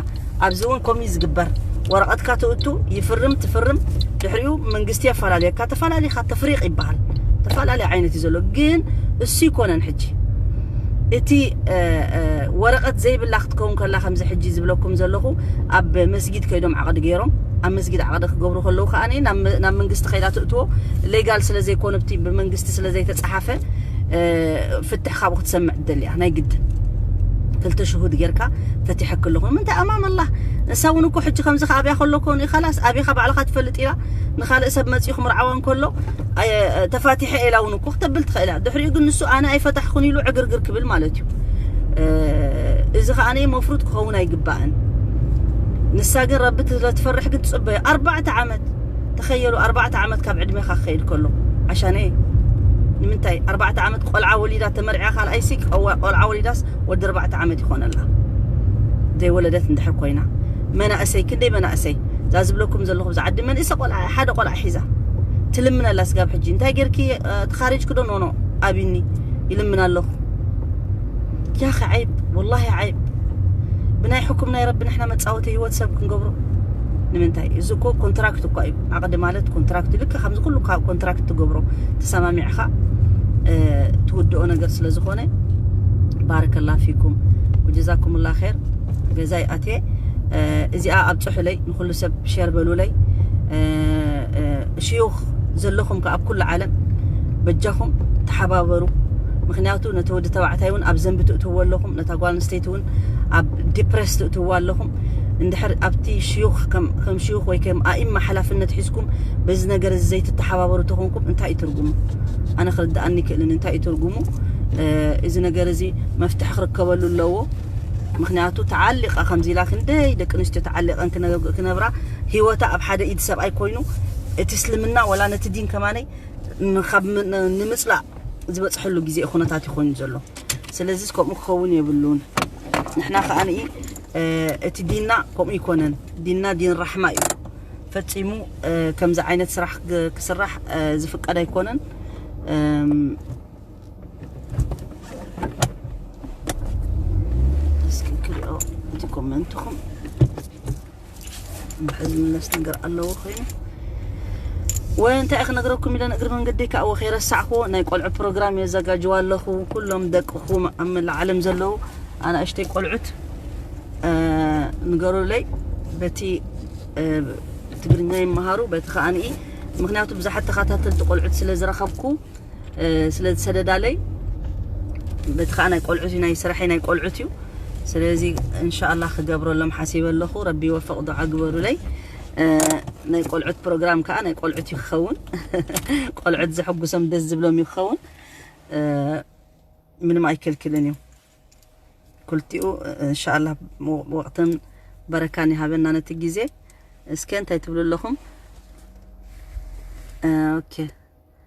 ኣብዚ እውን ከምኡ እዩ ዝግበር ወረቐትካ ትእቱ ይፍርም ትፍርም ድሕሪኡ መንግስቲ የፈላልየካ ተፈላሊኻ ተፍሪቕ ይበሃል ተፈላለየ ዓይነት እዩ ዘሎ ግን እሱ ይኮነን ሕጂ እቲ ወረቐት ዘይብላ ክትከውን ከላ ከምዚ ሕጂ ዝብለኩም ዘለኹ ኣብ መስጊድ ከይዶም ዓቕዲ ገይሮም ኣብ መስጊድ ዓቕዲ ክገብሩ ከለዉ ከዓ ናብ መንግስቲ ከይዳ ትእትዎ ሌጋል ስለ ዘይኮነ ብመንግስቲ ስለ ዘይተፀሓፈ ፍትሕ ካብኡ ክትሰምዕ ትደልያ ናይ ግድን ክልተ ሽሁድ ጌርካ ፈቲሐኪ ኣለኹ ንምንታይ ኣማም ኣላህ ንሳ እውን እኮ ሕጂ ከምዚ ኣብያ ከሎ ኮ ንኻላስ ኣብኻ ባዕልኻ ትፈልጥ ኢላ ንኻልእ ሰብ መፅኡ ክምርዓዋ እንከሎ ተፋቲሐ ኢላ እውን እኮ ክተብል ትኽእል እያ ድሕሪኡ ግን ንሱ ኣነ ኣይፈታሕኹን ኢሉ ዕግርግር ክብል ማለት እዩ እዚ ከዓነ መፍሩድ ክኸውን ኣይግባእን ንሳ ግን ረቢ ስለትፈርሕ ግን ትፅበዮ ኣርባዕተ ዓመት ተኸየሉ ኣርባዕተ ዓመት ካብ ዕድሜኻ ክኸይድ ከሎ ዓሻኔ ንምንታይ ኣርባዕተ ዓመት ቆልዓ ወሊዳ ተመርዕያ ካልኣይሲ ቆልዓ ወሊዳስ ወዲ ኣርባዕተ ዓመት ይኾነላ ዘይወለደት እንድሕር ኮይና መናእሰይ ክንደይ መናእሰይ እዛ ዝብለኩም ዘለኹ ብዛ ዓዲ መንእሰ ቆልዓ ሓደ ቆልዓ ሒዛ ትልምን ኣላ ስጋብ ሕጂ እንታይ ጌርኪ ተኻሪጅኪ ዶ ኖኖ ኣብኒ ይልምን ኣለኹ ያኺ ዐይብ ወላሂ ዐይብ ብናይ ሕኩም ናይ ረቢ ንሕና መጻወቲ ህይወት ሰብ ክንገብሮ ንምንታይ እዚ እኮ ኮንትራክት እኳ እዩ ዓቕዲ ማለት ኮንትራክት እዩ ልክዕ ከምዚ ኩሉ ካብ ኮንትራክት ትገብሮ ተሰማሚዕኻ ትውድኦ ነገር ስለ ዝኾነ ባረከላ ፊኩም ወጀዛኩምላ ር ገዛይ ኣትየ እዚኣ ኣብ ፅሑለይ ንኩሉ ሰብ ሸር በሉለይ ሽዩኽ ዘለኹም ከ ኣብ ኩሉ ዓለም በጃኹም ተሓባበሩ ምክንያቱ ትወስዱ ነቲ ወዲ ተባዕታይ እውን ኣብ ዘንቢ ትእትዎ ኣለኹም ነታ ጓል ኣንስተይቲ እውን ኣብ ዲፕሬስ ትእትዎ ኣለኹም እንድሕር ኣብቲ ሽዩኽ ከም ሽዩኽ ወይ ከም ኣኢማ ሓላፍነት ሒዝኩም በዚ ነገር እዚ ዘይትተሓባበሩ ተኾንኩም እንታይ እዩ ትርጉሙ ኣነ ክርድኣኒ ክእልን እንታይ እዩ ትርጉሙ እዚ ነገር እዚ መፍትሒ ክርከበሉ ኣለዎ ምክንያቱ ተዓሊቃ ከምዚ ኢላ ክንደይ ደቂ ኣንስትዮ ተዓሊቀን ክነብራ ሂወታ ኣብ ሓደ ኢድ ሰብኣይ ኮይኑ እቲ እስልምና ወላ ነቲ ዲን ከማነይ ንምፅላእ ዝበጽሐሉ ግዜ እዩ ኩነታት እዩ ኮይኑ ዘሎ ስለዚስ ከምኡ ክኸውን የብሉን ንሕና ከኣ እቲ ዲንና ከምኡ ይኮነን ዲንና ዲን ራሕማ እዩ ፈጺሙ ከምዚ ዓይነት ስራሕ ክስራሕ ዝፍቀድ ኣይኮነን እስኪ ክሪኦ እቲ ኮመንትኹም ብሕዝኒ ነፍሲ ነገር ኣለዎ ኮይኑ ወንታይ ክነግረኩም ኢለን እግሪ መንገዲ ከዓ ወከይረሳዕክዎ ናይ ቆልዑ ፕሮግራም የዘጋጅዋ ኣለኹ ኩሎም ደቅኹም ኣብ መላእ ዓለም ዘለዉ ኣናእሽተይ ቆልዑት ንገሩለይ በቲ ትግርኛ ይመሃሩ በቲ ከዓንኢ ምክንያቱ ብዙሓት ተኸታተልቲ ቆልዑት ስለ ዝረኸብኩ ስለ ዝሰደዳለይ በቲ ከዓ ናይ ቆልዑት ናይ ስራሐይ ናይ ቆልዑት እዩ ስለዚ እንሻላ ክገብረሎም ሓሲበ ኣለኹ ረቢ ወፈቕ ዱዓ ግበሩለይ ናይ ቆልዑት ፕሮግራም ከዓ ናይ ቆልዑት እዩ ክኸውን ቆልዑት ዘሐጉሶም ደስ ዝብሎም እዩ ክኸውን ምንም ኣይከልክልን እዩ ኩልቲኡ እንሻላ ወቅትን በረካን ይሃበና ነቲ ግዜ እስከ እንታይ ትብሉ ኣለኹም ኦኬ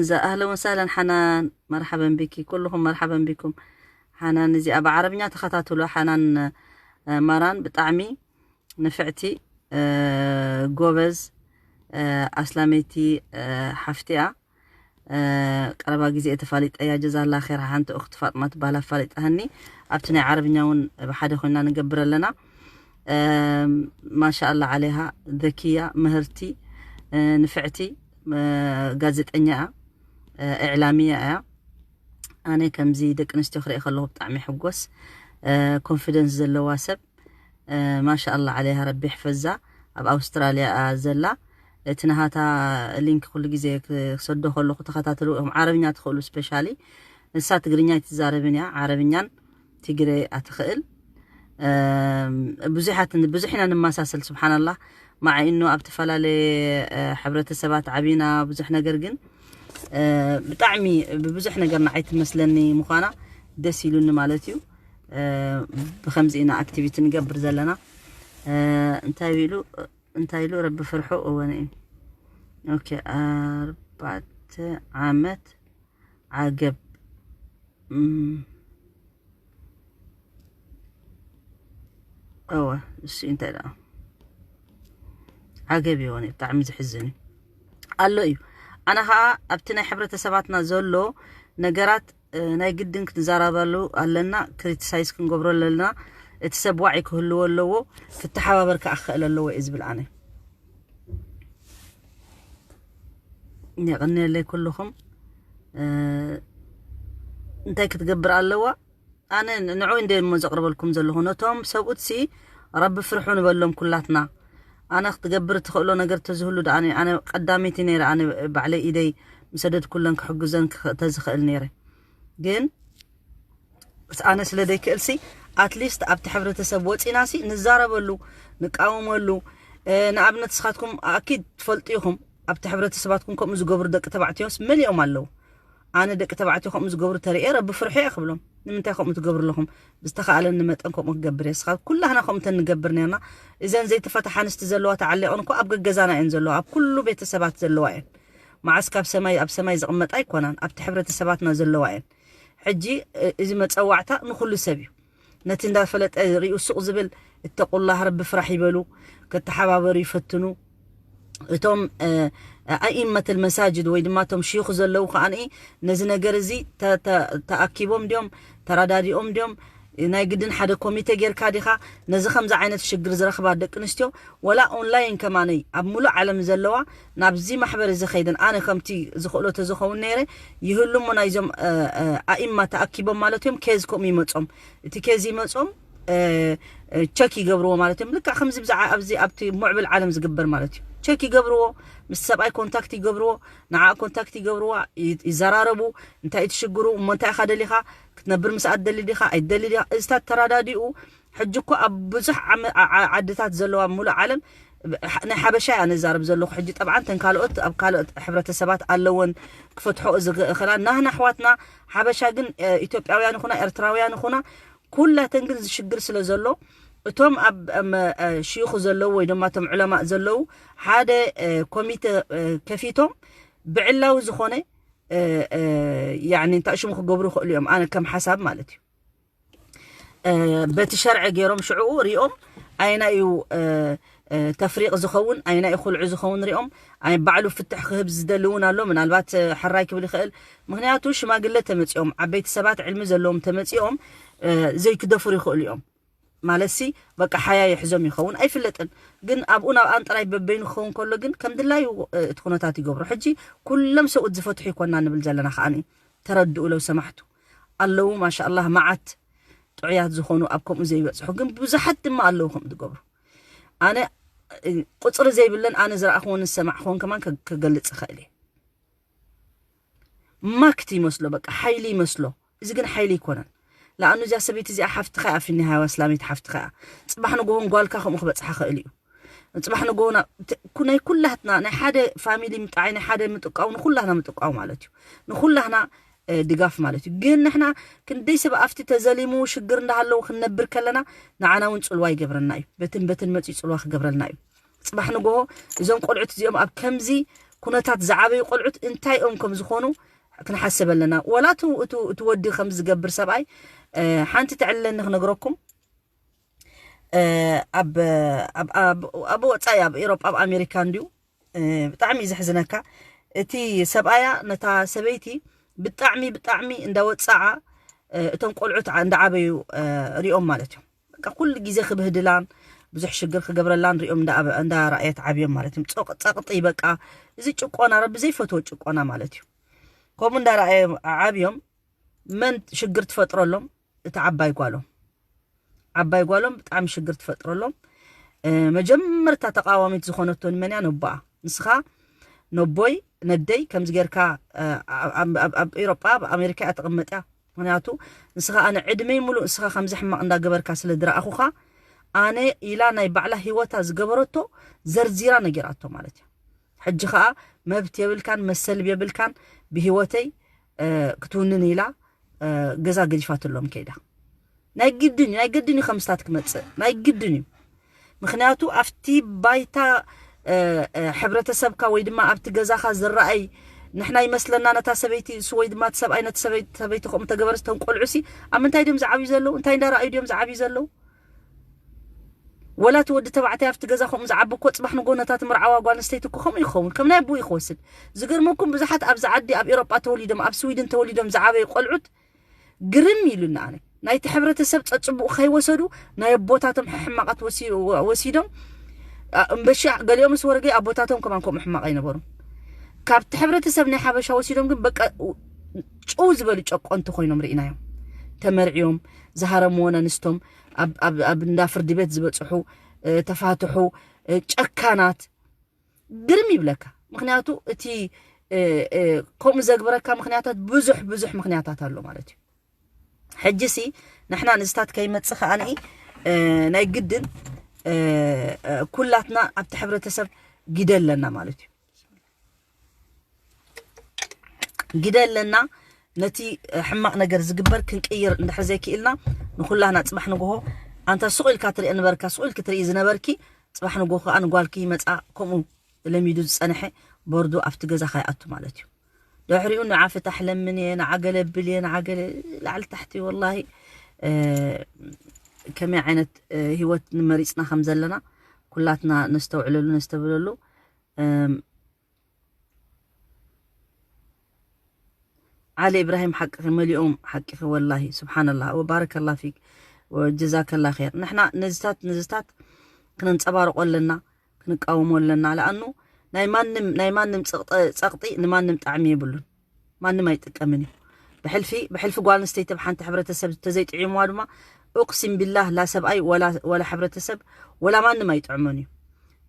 እዛ ኣህለን ወሳህለን ሓናን መርሓበን ቢኪ ኩሉኹም መርሓበን ቢኩም ሓናን እዚኣ ብዓረብኛ ተኸታትሎ ሓናን ማራን ብጣዕሚ ንፍዕቲ ጎበዝ ኣስላመይቲ ሓፍቲያ ቀረባ ግዜ ተፋሊጠያ ጀዛላ ኸይር ሓንቲ እኽቲ ፋጥማ ትበሃል ኣፋሊጣሃኒ ኣብቲ ናይ ዓረብኛ እውን ብሓደ ኮይና ንገብር ኣለና ማሻኣላ ዓለይሃ ዘኪያ ምህርቲ ንፍዕቲ ጋዜጠኛ እያ እዕላሚያ እያ ኣነ ከምዚ ደቂ ኣንስትዮ ክርኢ ከለኹ ብጣዕሚ ሕጎስ ኮንፊደንስ ዘለዋ ሰብ ማሻኣላ ዓለይሃ ረቢ ሕፈዛ ኣብ ኣውስትራልያ ዘላ እቲ ናሃታ ሊንክ ኩሉ ግዜ ክሰዶ ከለኹ ተኸታተሉ ዓረብኛ ትኽእሉ ስፔሻሊ ንሳ ትግርኛ ኣይትዛረብን እያ ዓረብኛን ትግረ ኣትኽእል ብዙሓት ብዙሕ ኢና ንመሳሰል ስብሓናላህ ማዓይ እኖ ኣብ ተፈላለየ ሕብረተሰባት ዓቢና ብዙሕ ነገር ግን ብጣዕሚ ብብዙሕ ነገር ንዓይ ትመስለኒ ምዃና ደስ ኢሉኒ ማለት እዩ ብከምዚ ኢና ኣክቲቪቲ ንገብር ዘለና እንታይ ኢሉ እንታይ ኢሉ ረቢ ፍርሑ እወን እዩ ኦኬ ኣርባዕተ ዓመት ዓገብ እወ እሱ እንታይ ደኣ ዓገብ ይሆን ብጣዕሚ ዝሕዝን እዩ ኣሎ እዩ ኣነ ከዓ ኣብቲ ናይ ሕብረተሰባትና ዘሎ ነገራት ናይ ግድን ክንዘራበሉ ኣለና ክሪቲሳይዝ ክንገብሮ ኣለና እቲ ሰብ ዋዒ ክህልዎ ኣለዎ ክተሓባበር ከዓ ክኽእል ኣለዎ እዩ ዝብል ኣነ የቐንየለይ ኩልኹም እንታይ ክትገብር ኣለዋ ኣነ ንዑ እንደ እሞ ዘቕርበልኩም ዘለኹ ነቶም ሰብኡትሲ ረቢ ፍርሑ ንበሎም ኩላትና ኣነ ክትገብር እትኽእሎ ነገር ተዝህሉ ደኣ ኣነ ቀዳመይቲ ነይረ ኣነ ባዕለይ ኢደይ ምሰደድ ኩለን ክሕግዘን ተዝኽእል ነይረ ግን ኣነ ስለ ዘይክእልሲ ኣትሊስት ኣብቲ ሕብረተሰብ ወፂናሲ ንዛረበሉ ንቃወመሉ ንኣብነት ስኻትኩም ኣኪድ ትፈልጡ ኢኹም ኣብቲ ሕብረተሰባትኩም ከምኡ ዝገብሩ ደቂ ተባዕትዮስ መሊኦም ኣለዉ ኣነ ደቂ ተባዕትዮ ከምኡ ዝገብሩ ተርእየ ረቢ ፍርሑ እየ ክብሎም ንምንታይ ከምኡ ትገብሩ ኣለኹም ብዝተኻእለኒ መጠን ከምኡ ክገብር እየ ስኻ ኩላህና ከምኡ ተንገብር ነርና እዘን ዘይተፈትሓ ኣንስቲ ዘለዋ ተዓሊቐን እኮ ኣብ ገገዛና እየን ዘለዋ ኣብ ኩሉ ቤተሰባት ዘለዋ እየን መዓስ ካብ ሰማይ ኣብ ሰማይ ዝቕመጣ ኣይኮናን ኣብቲ ሕብረተሰባትና ዘለዋ እየን ሕጂ እዚ መጸዋዕታ ንኹሉ ሰብ እዩ ነቲ እንዳ ፈለጠ ሪኡ ሱቕ ዝብል እተቁላህ ረቢ ፍራሕ ይበሉ ከተሓባበሩ ይፈትኑ እቶም ኣኢመተል መሳጅድ ወይ ድማ እቶም ሽዩኽ ዘለዉ ከኣ ነዚ ነገር እዚ ተኣኪቦም ድዮም ተራዳዲኦም ድዮም ናይ ግድን ሓደ ኮሚቴ ጌርካ ዲኻ ነዚ ከምዚ ዓይነት ሽግር ዝረኽባ ደቂ ኣንስትዮ ወላ ኦንላይን ከማነይ ኣብ ሙሉእ ዓለም ዘለዋ ናብዚ ማሕበር እዚ ከይደን ኣነ ከምቲ ዝኽእሎ ተዝኸውን ነይረ ይህሉ እሞ ናይዞም ኣኢማ ተኣኪቦም ማለት እዮም ኬዝ ከምኡ ይመጾም እቲ ኬዝ ይመጾም ቸክ ይገብርዎ ማለት እዮም ልክዕ ከምዚ ብዛዕባ ኣብዚ ኣብቲ ሙዕብል ዓለም ዝግበር ማለት እዩ ቸክ ይገብርዎ ምስ ሰብኣይ ኮንታክት ይገብርዎ ንዓ ኮንታክት ይገብርዋ ይዘራረቡ እንታይ ትሽግሩ እሞ እንታይ ኢኻ ደሊኻ ክትነብር ምስኣ ትደሊ ዲኻ ኣይትደሊ ዲኻ እዚታት ተረዳዲኡ ሕጂ እኮ ኣብ ብዙሕ ዓድታት ዘለዋ ምሉእ ዓለም ናይ ሓበሻ እያ ንዛረብ ዘለኹ ሕጂ ጠብዓን ተን ካልኦት ኣብ ካልኦት ሕብረተሰባት ኣለወን ክፈትሖኦ ዝኽእላ ናህና ኣሕዋትና ሓበሻ ግን ኢትዮጵያውያን ይኹና ኤርትራውያን ይኹና ኩላተን ግን ዝሽግር ስለ ዘሎ እቶም ኣብ ሽይኹ ዘለዉ ወይ ድማ እቶም ዕለማእ ዘለዉ ሓደ ኮሚተ ከፊቶም ብዕላዊ ዝኾነ ያኒ እንታይ ሽሙ ክገብሩ ይኽእሉ እዮም ኣነ ከም ሓሳብ ማለት እዩ በቲ ሸርዐ ገይሮም ሽዕኡ ሪኦም ኣየናይ እዩ ተፍሪቅ ዝኸውን ኣየናይ እዩ ኩልዑ ዝኸውን ሪኦም ኣይ ባዕሉ ፍትሕ ክህብ ዝደሊ እውን ኣሎ ምናልባት ሕራይ ክብል ይኽእል ምክንያቱ ሽማግለ ተመፂኦም ዓበይቲ ሰባት ዕልሚ ዘለዎም ተመፂኦም ዘይክደፍሩ ይኽእሉ እዮም ማለት ሲ በቃ ሓያ የሕዞም ይኸውን ኣይፍለጥን ግን ኣብኡ ናብኣን ጥራይ በበይኑ ክኸውን ከሎ ግን ከም ድላዩ እቲ ኩነታት ይገብሩ ሕጂ ኩሎም ሰብኡት ዝፈትሑ ይኮና ንብል ዘለና ከዓኒ ተረድኡ ለው ሰማሕቱ ኣለዉ ማሻላህ ማዓት ጥዑያት ዝኾኑ ኣብ ከምኡ ዘይበጽሑ ግን ብዙሓት ድማ ኣለዉ ከም ዝገብሩ ኣነ ቁጽሪ ዘይብለን ኣነ ዝረኣኹዎን ዝሰማዕኹዎን ከማን ክገልጽ ይኽእል እየ ማክት ይመስሎ በቃ ሓይሊ ይመስሎ እዚ ግን ሓይሊ ኣይኮነን ለኣኑ እዚኣ ሰበይቲ እዚኣ ሓፍትኻ እያ ፊኒሃዋ እስላሚት ሓፍትኻ እያ ፅባሕ ንጎሆን ጓልካ ከምኡ ክበፅሓ ክእል እዩ ፅባሕ ንጎሆ ናይ ኩላትና ናይ ሓደ ፋሚሊ ምጣዓይ ናይ ሓደ ምጥቃው ንኩላህና ምጥቃው ማለት እዩ ንኩላህና ድጋፍ ማለት እዩ ግን ንሕና ክንደይ ሰብ ኣፍቲ ተዘሊሙ ሽግር እንዳሃለዉ ክንነብር ከለና ንዓና እውን ጽልዋ ይገብረና እዩ በትን በትን መጽዩ ጽልዋ ክገብረልና እዩ ጽባሕ ንጎሆ እዞም ቆልዑት እዚኦም ኣብ ከምዚ ኩነታት ዝዓበዩ ቆልዑት እንታይ ኦም ከም ዝኾኑ ክንሓስብ ኣለና ወላ እቲ ወዲ ከም ዝገብር ሰብኣይ ሓንቲ ተዕለኒ ክነግረኩም ኣብ ወፃኢ ኣብ ኤሮጳ ኣብ ኣሜሪካ እንድዩ ብጣዕሚ እዩ ዘሕዝነካ እቲ ሰብኣያ ነታ ሰበይቲ ብጣዕሚ ብጣዕሚ እንዳወፀዓ እቶም ቆልዑት እንዳዓበዩ ሪኦም ማለት እዮም በቃ ኩሉ ግዜ ክብህድላን ብዙሕ ሽግር ክገብረላን ሪኦም እንዳረኣየት ዓብዮም ማለት እዮም ፀቕጢ በቃ እዚ ጭቆና ረቢ ዘይፈትዎ ጭቆና ማለት እዩ ከምኡ እንዳረኣየ ዓብዮም መን ሽግር ትፈጥረሎም እታ ዓባይ ጓሎም ዓባይ ጓሎም ብጣዕሚ ሽግር ትፈጥረሎም መጀመርታ ተቃዋሚት ዝኾነቶ ንመን እያ ነቦኣ ንስኻ ነቦይ ነደይ ከምዚ ጌርካ ኣብ ኤሮጳ ኣብ ኣሜሪካ እያ ተቐመጥ እያ ምክንያቱ ንስኻ ኣነ ዕድመይ ሙሉእ ንስኻ ከምዚ ሕማቕ እንዳገበርካ ስለ ድረኣኹኻ ኣነ ኢላ ናይ ባዕላ ሂወታ ዝገበረቶ ዘርዚራ ነጊራቶ ማለት እዩ ሕጂ ከዓ መብት የብልካን መሰልብ የብልካን ብሂወተይ ክትውንን ኢላ ገዛ ገዲፋትሎም ከይዳ ናይ ግድን ናይ ግድን እዩ ከምስታት ክመጽእ ናይ ግድን እዩ ምክንያቱ ኣብቲ ባይታ ሕብረተሰብካ ወይ ድማ ኣብቲ ገዛኻ ዝረኣይ ንሕና ይመስለና ነታ ሰበይቲ እሱ ወይ ድማ እቲ ሰብኣይ ነቲ ሰበይቲ ከምኡ ተገበረስ ተንቆልዑሲ ኣብ ምንታይ ድዮም ዝዓብዩ ዘለዉ እንታይ እንዳረኣዩ ድዮም ዝዓብዩ ዘለዉ ወላ እቲ ወዲ ተባዕታይ ኣብቲ ገዛ ከምኡ ዝዓቢ እኮ ጽባሕ ንጎ ነታ ትምርዓዋ ጓል ኣንስተይቲ እኮ ከምኡ እዩ ክኸውን ከም ናይ ኣቦኡ እዩ ክወስድ ዝገርመኩም ብዙሓት ኣብዚ ዓዲ ኣብ ኤሮጳ ተወሊዶም ኣብ ስዊድን ተወሊዶም ዝዓበዩ ቆልዑት ግርም ኢሉኒ ኣነ ናይቲ ሕብረተሰብ ጸጽቡቕ ከይወሰዱ ናይ ኣቦታቶም ሕማቓት ወሲዶም እምበሻ ገሊኦምስ ወረገ ኣቦታቶም ከማን ከምኡ ሕማቕ ኣይነበሩን ካብቲ ሕብረተሰብ ናይ ሓበሻ ወሲዶም ግን በቃ ጭው ዝበሉ ጨቆንቲ ኮይኖም ርኢናዮም ተመርዕዮም ዝሃረምዎን ኣንስቶም ኣብ እንዳ ፍርዲ ቤት ዝበፅሑ ተፋትሑ ጨካናት ግርም ይብለካ ምክንያቱ እቲ ከምኡ ዘግብረካ ምክንያታት ብዙሕ ብዙሕ ምክንያታት ኣሎ ማለት እዩ ሕጂ ሲ ንሕና ንዝታት ከይመፅእ ከዓኒ ናይ ግድን ኩላትና ኣብቲ ሕብረተሰብ ግደ ኣለና ማለት እዩ ግደ ኣለና ነቲ ሕማቕ ነገር ዝግበር ክንቅይር እንድሕር ዘይክኢልና ንኹላህና ፅባሕ ንግሆ ኣንታ ሱቕ ኢልካ ትሪኦ ነበርካ ሱቕ ኢልኪ ትርኢ ዝነበርኪ ፅባሕ ንግሆ ከዓ ንጓልኪ ይመፃ ከምኡ ለሚዱ ዝፀንሐ ቦርዱ ኣብቲ ገዛ ከይኣቱ ማለት እዩ ድሕሪኡ ንዓ ፍታሕ ለምን እየ ንዓ ገለብል እየ ንዓ ገለ ላዕሊ ታሕቲ ወላሂ ከመይ ዓይነት ሂወት ንመሪፅና ከም ዘለና ኩላትና ነስተውዕለሉ ነስተብለሉ እም ዓሊ ኢብራሂም ሓቅኺ መሊኦም ሓቂኺ ወላሂ ስብሓንላ ወባረከላ ፊክ ወጀዛከላ ር ንሕና ነዚታት ነዚታት ክነንፀባርቆ ኣለና ክንቃወሞ ኣለና ለኣኑ ናይ ማንም ናይ ማንም ፀቕጢ ንማንም ጣዕሚ የብሉን ማንም ኣይጥቀምን እዩ ብሕልፊ ብሕልፊ ጓል ኣንስተይቲ ኣብ ሓንቲ ሕብረተሰብ ተዘይጥዒምዋ ድማ እቕሲም ቢላህ ላ ሰብኣይ ወላ ሕብረተሰብ ወላ ማንም ኣይጥዕሞን እዩ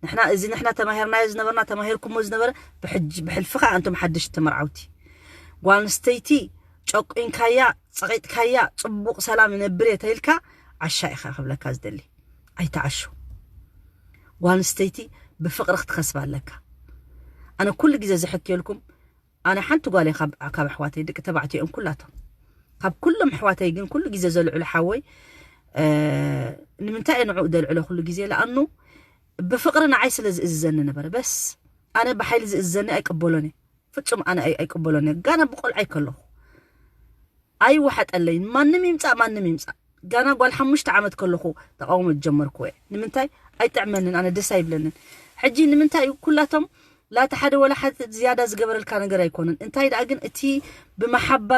ንሕና እዚ ንሕና ተማሂርናዮ ዝነበርና ተማሂርኩሞ ዝነበረ ብሕልፊ ከዓ እንቶም ሓድሽ ተመርዓውቲ ጓል ኣንስተይቲ ጨቁንካያ ፀቂጥካያ ፅቡቕ ሰላም ይነብር እየ ተይልካ ዓሻ ኢኻ ክብለካ ዝደሊ ኣይትዓሹ ጓል ኣንስተይቲ ብፍቕሪ ክትኸስባ ኣለካ ኣነ ኩሉ ግዜ ዝሕክየልኩም ኣነ ሓንቲ ጓል እየ ካብ ካብ ኣሕዋተይ ደቂ ተባዕትዮ እዮም ኩላቶም ካብ ኩሎም ኣሕዋተይ ግን ኩሉ ግዜ ዘልዕሎ ሓወይ ንምንታይ እየ ንዕኡ ደልዕሎ ኩሉ ግዜ ለኣኑ ብፍቅሪ ንዓይ ስለ ዝእዝዘኒ ነበረ በስ ኣነ ብሓይሊ ዝእዝዘኒ ኣይቅበሎን እየ ፍጹም ኣነ ኣይቅበሎን እየ ጋና ብቆልዓይ ከለኹ ኣይወሓጠለይን ማንም ይምጻእ ማንም ይምጻእ ጋና ጓል ሓሙሽተ ዓመት ከለኩ ተቃውሞ ዝጀመርኩወ ንምንታይ ኣይጥዕመንን ኣነ ደስ ኣይብለንን ሕጂ ንምንታይ እዩ ኩላቶም ላቲ ሓደ ወላ ሓድ ዝያዳ ዝገበረልካ ነገር ኣይኮነን እንታይ ደኣ ግን እቲ ብመሓባ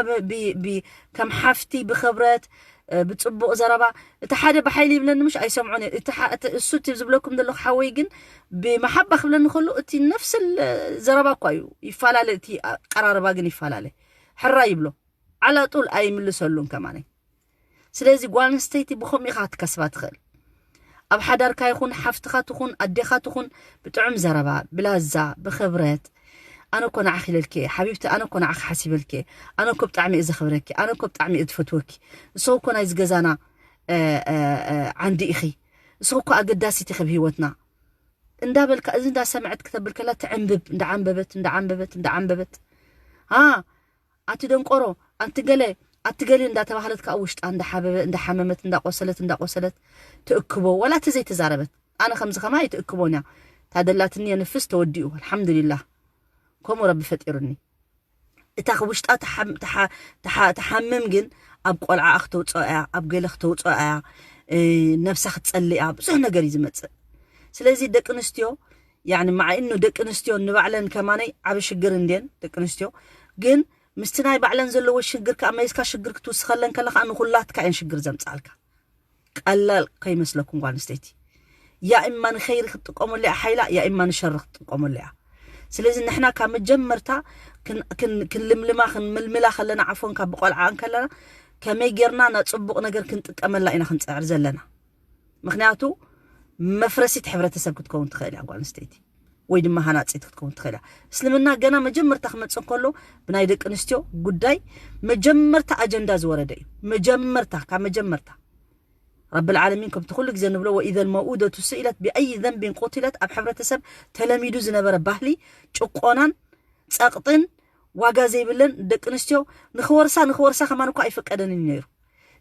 ከም ሓፍቲ ብክብረት ብጽቡቅ ዘረባ እቲ ሓደ ብሓይሊ ይብለኒ ምሽ ኣይሰምዖን እየ እቲ እሱ እቲ ዝብለኩም ዘለኩ ሓወይ ግን ብመሓባ ክብለኒ ከሎ እቲ ነፍስ ዘረባ እኳ እዩ ይፈላለ እቲ ኣቀራርባ ግን ይፈላለ ሕራይ ይብሎ ዓላጡል ኣይምልሰሉን ከማነይ ስለዚ ጓል ኣንስተይቲ ብከምኡ ኢካ ክትከስባ ትክእል ኣብ ሓዳርካ ይኩን ሓፍትካ ትኩን ኣዴካ ትኩን ብጥዑም ዘረባ ብላዛ ብክብረት ኣነ እኮ ንዓኪ ኢለልኪ እየ ሓቢብቲ ኣነ እኮ ንዓኪ ሓሲበልኪ እየ ኣነ እኮ ብጣዕሚ እየ ዘክብረኪ ኣነ እኮ ብጣዕሚ እየ ዝፈትወኪ ንስኪ እኮ ናይዚ ገዛና ዓንዲ ኢኪ ንስኪ እኮ ኣገዳሲት ኢኪ ኣብ ሂወትና እንዳበልካ እዚ እንዳ ሰመዐት ክተብል ከላ ትዕንብብ እንዳ ዓንበበት እንዳ ዓንበበት እንዳ ዓንበበት ኣ ኣቲ ደንቆሮ ኣንቲ ገለ ኣቲ ገለ እንዳ ተባህለት ከኣ ውሽጣ እንዳ ሓበበ እንዳ ሓመመት እንዳ ቆሰለት እንዳ ቆሰለት ትእክቦ ዋላ እቲ ዘይ ተዛረበት ኣነ ከምዚ ከማይ ኣይትእክቦን እያ ታደላትኒ የንፍስ ተወዲኡ ኣልሓምዱሊላህ ከምኡ ረቢ ፈጢሩኒ። እታ ውሽጣ ትሓምም ግን ኣብ ቆልዓኣ ክተውፅኦ እያ ኣብ ገለ ክተውፅኦ እያ ነብሳ ክትፀልእ እያ ብዙሕ ነገር እዩ ዝመፅእ ስለዚ ደቂ ኣንስትዮ ያኒ ማዕ እኑ ደቂ ኣንስትዮ ንባዕለን ከማነይ ዓብ ሽግር እንድየን ደቂ ኣንስትዮ ግን ምስቲ ናይ ባዕለን ዘለዎ ሽግር ከዓ መሊስካ ሽግር ክትውስኸለን ከለካ ንኩላትካ እየን ሽግር ዘምፅኣልካ ቀላል ከይመስለኩም ጓል ኣንስተይቲ ያኢማ ንኸይሪ ክትጥቀመሉ እያ ሓይላ ያኢማ ንሸሪ ክትጥቀመሉ እያ ስለዚ ንሕና ካብ መጀመርታ ክንልምልማ ክንምልምላ ከለና ዓፎን ካብ ብቆልዓ እንከለና ከመይ ጌርና ና ጽቡቕ ነገር ክንጥቀመላ ኢና ክንጽዕር ዘለና ምክንያቱ መፍረሲት ሕብረተሰብ ክትከውን ትኽእል እያ ጓል ኣንስተይቲ ወይ ድማ ሃናጺት ክትከውን ትኽእል እያ እስልምና ገና መጀመርታ ክመጽእ ከሎ ብናይ ደቂ ኣንስትዮ ጉዳይ መጀመርታ ኣጀንዳ ዝወረደ እዩ መጀመርታ ካብ መጀመርታ ረቢ ልዓለሚን ከምቲ ኩሉ ግዜ ንብሎ ወኢዘ ልመውኡደቱ ስኢለት ብኣይ ዘንቢን ቁትለት ኣብ ሕብረተሰብ ተለሚዱ ዝነበረ ባህሊ ጭቆናን ጸቕጥን ዋጋ ዘይብለን ደቂ ኣንስትዮ ንክወርሳ ንክወርሳ ከማን እኳ ኣይፍቀደንን ነይሩ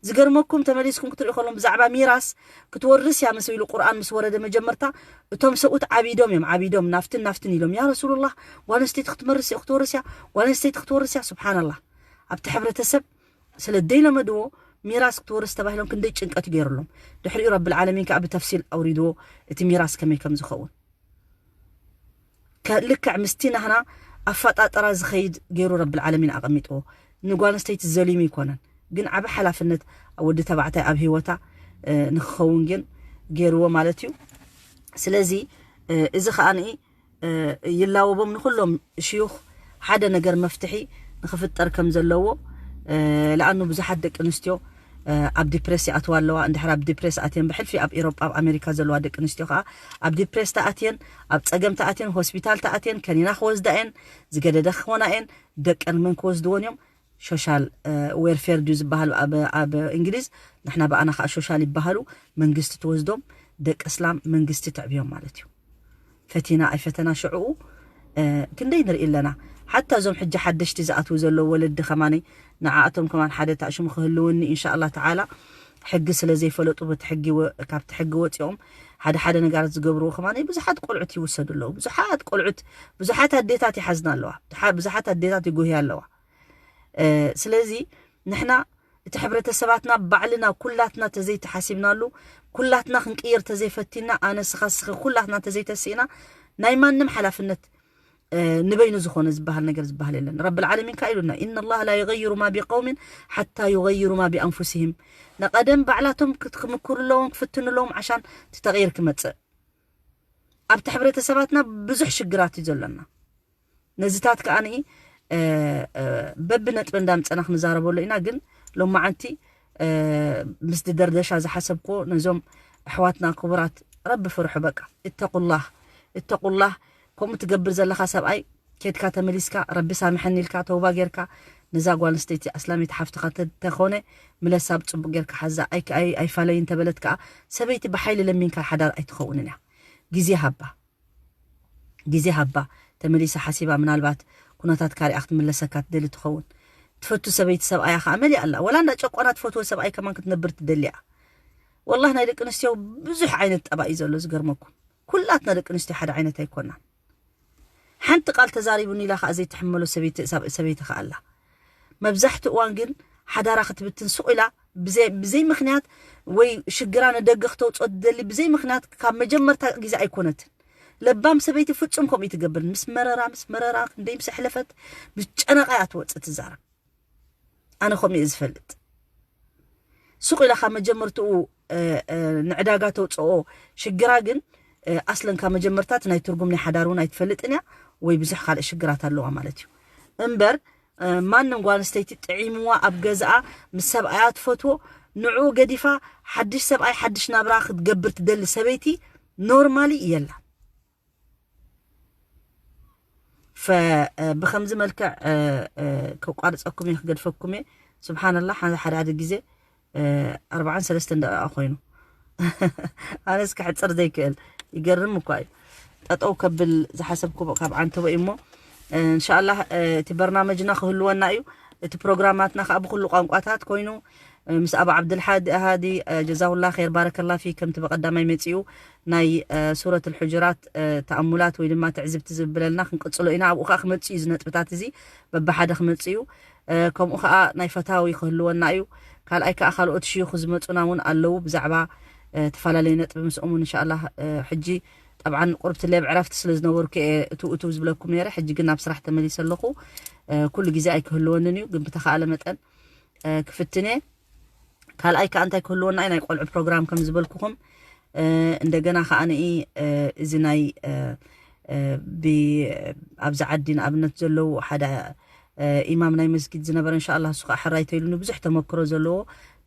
ዝገርመኩም ተመሊስኩም ክትሪኡ ከለኩም ብዛዕባ ሚራስ ክትወርስ እያ መስ ኢሉ ቁርኣን ምስ ወረደ መጀመርታ እቶም ሰብኡት ዓቢዶም እዮም ዓቢዶም ናፍትን ናፍትን ኢሎም ያ ረሱሉላህ ጓል ኣንስተይቲ ክትመርስ ክትወርስ እያ ጓል ኣንስተይቲ ክትወርስ እያ ሱብሓነላህ ኣብቲ ሕብረተሰብ ስለ ደይለመድዎ ሚራስ ክትወርስ ተባሂሎም ክንደይ ጭንቀት ገይሩሎም ድሕሪኡ ረብል ዓለሚን ከዓ ብተፍሲል ኣውሪድዎ እቲ ሚራስ ከመይ ከም ዝኸውን ልክዕ ምስቲ ናህና ኣፋጣጥራ ዝከይድ ገይሩ ረቢ ልዓለሚን ኣቀሚጥዎ ንጓል ኣንስተይቲ ዘሊሙ ኣይኮነን ግን ዓቢ ሓላፍነት ኣብ ወዲ ተባዕታይ ኣብ ሂወታ ንክከውን ግን ገይርዎ ማለት እዩ ስለዚ እዚ ከኣ ይላወቦም ንኩሎም ሽዩክ ሓደ ነገር መፍትሒ ንክፍጠር ከም ዘለዎ ልኣኑ ብዙሓት ደቂ ኣንስትዮ ኣብ ዲፕሬስ ይኣትዋ ኣለዋ። እንድሕር ኣብ ዲፕሬስ ኣትየን ብሕልፊ ኣብ ኢሮጳ ኣብ ኣሜሪካ ዘለዋ ደቂ ኣንስትዮ ከኣ ኣብ ዲፕሬስ ተኣትየን ኣብ ጸገም ተኣትየን ሆስፒታል ተኣትየን ከኒና ክወስዳ እየን ዝገደደ ክኾና እየን ደቀን መን ክወስድወን እዮም ሾሻል ዌርፌር ድዩ ዝበሃል ኣብ እንግሊዝ ንሕና ብኣና ከኣ ሾሻል ይበሃሉ መንግስቲ ትወስዶም ደቂ እስላም መንግስቲ ተዕብዮም ማለት እዩ። ፈቲና ኣይፈተና ሽዕኡ ክንደይ ንርኢ ኣለና ሓታ እዞም ሕጂ ሓደሽቲ ዝኣትዉ ዘለዉ ወለዲ ከማን ንዓኣቶም ከማን ሓደ ታእሽሙ ክህልወኒ ኢንሻኣላህ ተዓላ ሕጊ ስለ ዘይፈለጡ በቲ ሕጊ ካብቲ ሕጊ ወጺኦም ሓደ ሓደ ነጋራት ዝገብርዎ ከማን ብዙሓት ቆልዑት ይውሰዱ ኣለዉ ብዙሓት ቆልዑት ብዙሓት ኣዴታት ይሓዝና ኣለዋ ብዙሓት ኣዴታት ይጉህያ ኣለዋ ስለዚ ንሕና እቲ ሕብረተሰባትና ባዕልና ኩላትና ተዘይተሓሲብናሉ ኩላትና ክንቅይር ተዘይፈቲና ኣነ ስኻ ስኺ ኩላትና ተዘይተሲእና ናይ ማንም ሓላፍነት ንበይኑ ዝኾነ ዝበሃል ነገር ዝበሃል የለን ረቢ ልዓለሚን ከ ኢሉና ኢና ላ ላ ይغይሩ ማ ቢቀውሚን ሓታ ይغይሩ ማ ቢኣንፉሲህም ንቐደም ባዕላቶም ክምክሩ ኣለዎም ክፍትኑ ኣለዎም ዓሻን እቲ ተቕይር ክመፅእ ኣብቲ ሕብረተሰባትና ብዙሕ ሽግራት እዩ ዘሎና ነዚታት ከኣ በብነጥቢ እንዳምጸና ክንዛረበሉ ኢና ግን ሎማዓንቲ ምስ ድደርደሻ ዝሓሰብክዎ ነዞም ኣሕዋትና ክቡራት ረቢ ፍርሑ በቃ እተቁላህ እተቁላህ ከምኡ ትገብር ዘለካ ሰብኣይ ኬድካ ተመሊስካ ረቢ ሳምሐኒ ኢልካ ተውባ ጌርካ ነዛ ጓል ኣንስተይቲ ኣስላሚት ሓፍትኻ ተኾነ ምለሳ ብፅቡቅ ጌርካ ሓዛ ኣይፋለይ እንተበለት ከዓ ሰበይቲ ብሓይሊ ለሚንካ ሓዳር ኣይትኸውንን እያ ግዜ ሃባ ግዜ ሃባ ተመሊሳ ሓሲባ ምናልባት ኩነታት ካሪኣ ክትምለሰካ ትደሊ ትኸውን ትፈቱ ሰበይቲ ሰብኣያ ከኣ መሊኣ ኣላ ወላ እንዳ ጨቆና ትፈትዎ ሰብኣይ ከማን ክትነብር ትደሊ እያ ወላህ ናይ ደቂ ኣንስትዮ ብዙሕ ዓይነት ጠባይ እዩ ዘሎ ዝገርመኩም ኩላትና ደቂ ኣንስትዮ ሓደ ዓይነት ኣይኮናን ሓንቲ ቃል ተዛሪቡኒ ኢላ ከኣ ዘይትሕመሎ ሰበይቲ ሰበይቲ ከኣ ኣላ መብዛሕትኡ እዋን ግን ሓዳራ ክትብትን ሱቕ ኢላ ብዘይ ምኽንያት ወይ ሽግራ ንደገ ክተውጽኦ ትደሊ ብዘይ ምኽንያት ካብ መጀመርታ ግዜ ኣይኮነትን። ለባም ሰበይቲ ፍጹም ከምኡ ኣይትገብርን ምስ መረራ ምስ መረራ ክንደይ ምስ ኣሕለፈት ምስ ጨነቓ እያ ትወጽእ ትዛረብ ኣነ ከምኡ እየ ዝፈልጥ። ሱቅ ኢላ ካብ መጀመርትኡ ንዕዳጋ ተውጽኦ ሽግራ ግን ኣስለን ካብ መጀመርታ እቲ ናይ ትርጉም ናይ ሓዳር እውን ኣይትፈልጥን እያ ወይ ብዙሕ ካልእ ሽግራት ኣለዋ ማለት እዩ እምበር ማንም ጓል ኣንስተይቲ ጥዒምዋ ኣብ ገዝኣ ምስ ሰብኣያ ትፈትዎ ንዕኡ ገዲፋ ሓድሽ ሰብኣይ ሓድሽ ናብራ ክትገብር ትደሊ ሰበይቲ ኖርማሊ የላ ብከምዚ መልክዕ ከቋርፀኩም እየ ክገድፈኩም እየ ስብሓንላ ሓደ ሓደ ግዜ ኣርባዓን ሰለስተን ደቂቃ ኮይኑ ኣነስ ክሕፅር ዘይክእል ይገርም እኳ እዩ ጠጠው ከብል ዝሓሰብኩ ካብ ዓንተቦ እዩ እሞ እንሻላ እቲ በርናመጅና ክህልወና እዩ እቲ ፕሮግራማትና ከዓ ብኩሉ ቋንቋታት ኮይኑ ምስ ኣቡ ዓብድል ሓድ ሃዲ ጀዛሁላህ ኼር ባረከላህ ፊክ ከምቲ በቀዳማይ መጺኡ ናይ ሱረቱል ሑጁራት ተኣሙላት ወይ ድማ ትዕዝብቲ ዝብለልና ክንቅጽሎ ኢና ኣብኡ ከኣ ክመጽእ እዩ እዚ ነጥብታት እዚ በብሓደ ክመጽእ እዩ ከምኡ ከኣ ናይ ፈታዊ ክህልወና እዩ ካልኣይ ከኣ ካልኦት ሽዩኽ ዝመጹና እውን ኣለዉ ብዛዕባ ተፈላለየ ነጥቢ ምስኦም እውን እንሻላህ ሕጂ ጠብዓን ቁርብቲ ሌብ ዕረፍቲ ስለ ዝነበርኩ እየ እትው እትው ዝብለኩም ነይረ ሕጂ ግን ናብ ስራሕ ተመሊሰ ኣለኹ ኩሉ ግዜ ኣይክህልወንን እዩ ግን ብተኻእለ መጠን ክፍትን እየ ካልኣይ ከዓ እንታይ ክህልወና እዩ ናይ ቆልዑ ፕሮግራም ከም ዝበልኩኹም እንደገና ከዓ ንኢ እዚ ናይ ኣብዚ ዓዲ ንኣብነት ዘለዉ ሓደ ኢማም ናይ መስጊድ ዝነበረ እንሻ ላ እሱ ከዓ ሕራይ ተይሉኒ ብዙሕ ተመክሮ ዘለዎ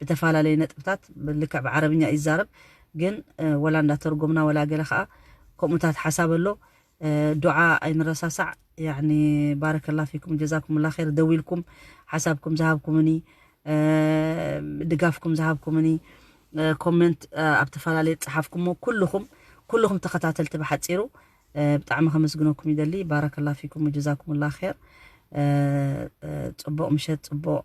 ብተፈላለየ ነጥብታት ልክዕ ብዓረብኛ ይዛረብ ግን ወላ እንዳተርጎምና ወላ ገለ ከዓ ከምኡታት ሓሳብ ኣሎ ዱዓ ኣይንረሳሳዕ ያኒ ባረከላ ፊኩም ጀዛኩሙላ ኸይር ደዊልኩም ሓሳብኩም ዝሃብኩምኒ ድጋፍኩም ዝሃብኩምኒ ኮመንት ኣብ ተፈላለየ ዝጸሓፍኩሞ ኩልኹም ኩልኹም ተኸታተልቲ ብሓጺሩ ብጣዕሚ ከመስግነኩም ይደሊ ባረከላ ፊኩም ጀዛኩሙላ ኸይር ጽቡቕ ምሸት ጽቡቕ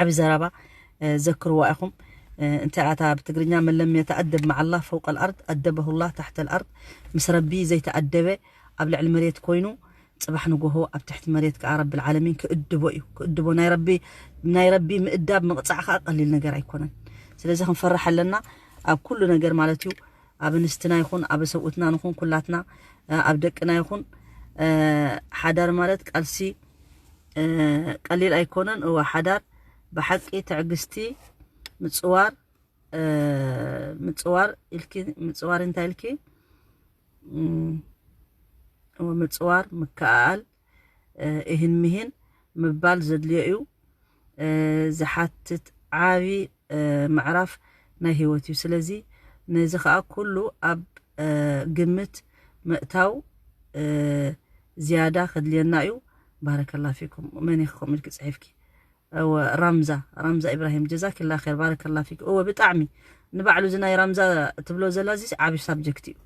ዓቢ ዘረባ ዘክርዋ ኢኹም እንታይ ኣታ ብትግርኛ መለም የተኣደብ መዓላ ፈውቀል ኣርድ ኣደበሁላ ታሕተል ኣርድ ምስ ረቢ ዘይተኣደበ ኣብ ልዕሊ መሬት ኮይኑ ጽባሕ ንጎሆ ኣብ ትሕቲ መሬት ከኣ ረቢ ዓለሚን ክእድቦ እዩ ክእድቦ ናይ ረቢ ናይ ረቢ ምእዳብ ምቕጻዕ ከኣ ቀሊል ነገር ኣይኮነን ስለዚ ክንፈርሕ ኣለና ኣብ ኩሉ ነገር ማለት እዩ ኣብ ንስትና ይኹን ኣብ ሰብኡትና ንኹን ኩላትና ኣብ ደቅና ይኹን ሓዳር ማለት ቃልሲ ቀሊል ኣይኮነን እወ ሓዳር ብሓቂ ትዕግስቲ ምፅዋር ምፅዋር ኢልኪ ምፅዋር እንታይ ኢልኪ እወ ምፅዋር ምከኣል እህን ምሂን ምባል ዘድልዮ እዩ ዝሓትት ዓቢ ምዕራፍ ናይ ህይወት እዩ። ስለዚ ነዚ ከኣ ኩሉ ኣብ ግምት ምእታው ዝያዳ ከድልየና እዩ። ባረከላ ፊኩም መን ኢኩም ኢልኪ ጽሒፍኪ እወ ራምዛ ራምዛ ኢብራሂም ጀዛኪላ ኸይር ባረከላ ፊክ እወ ብጣዕሚ ንባዕሉ እዚ ናይ ራምዛ ትብሎ ዘላ እዚ ዓቢ ሳብጀክት እዩ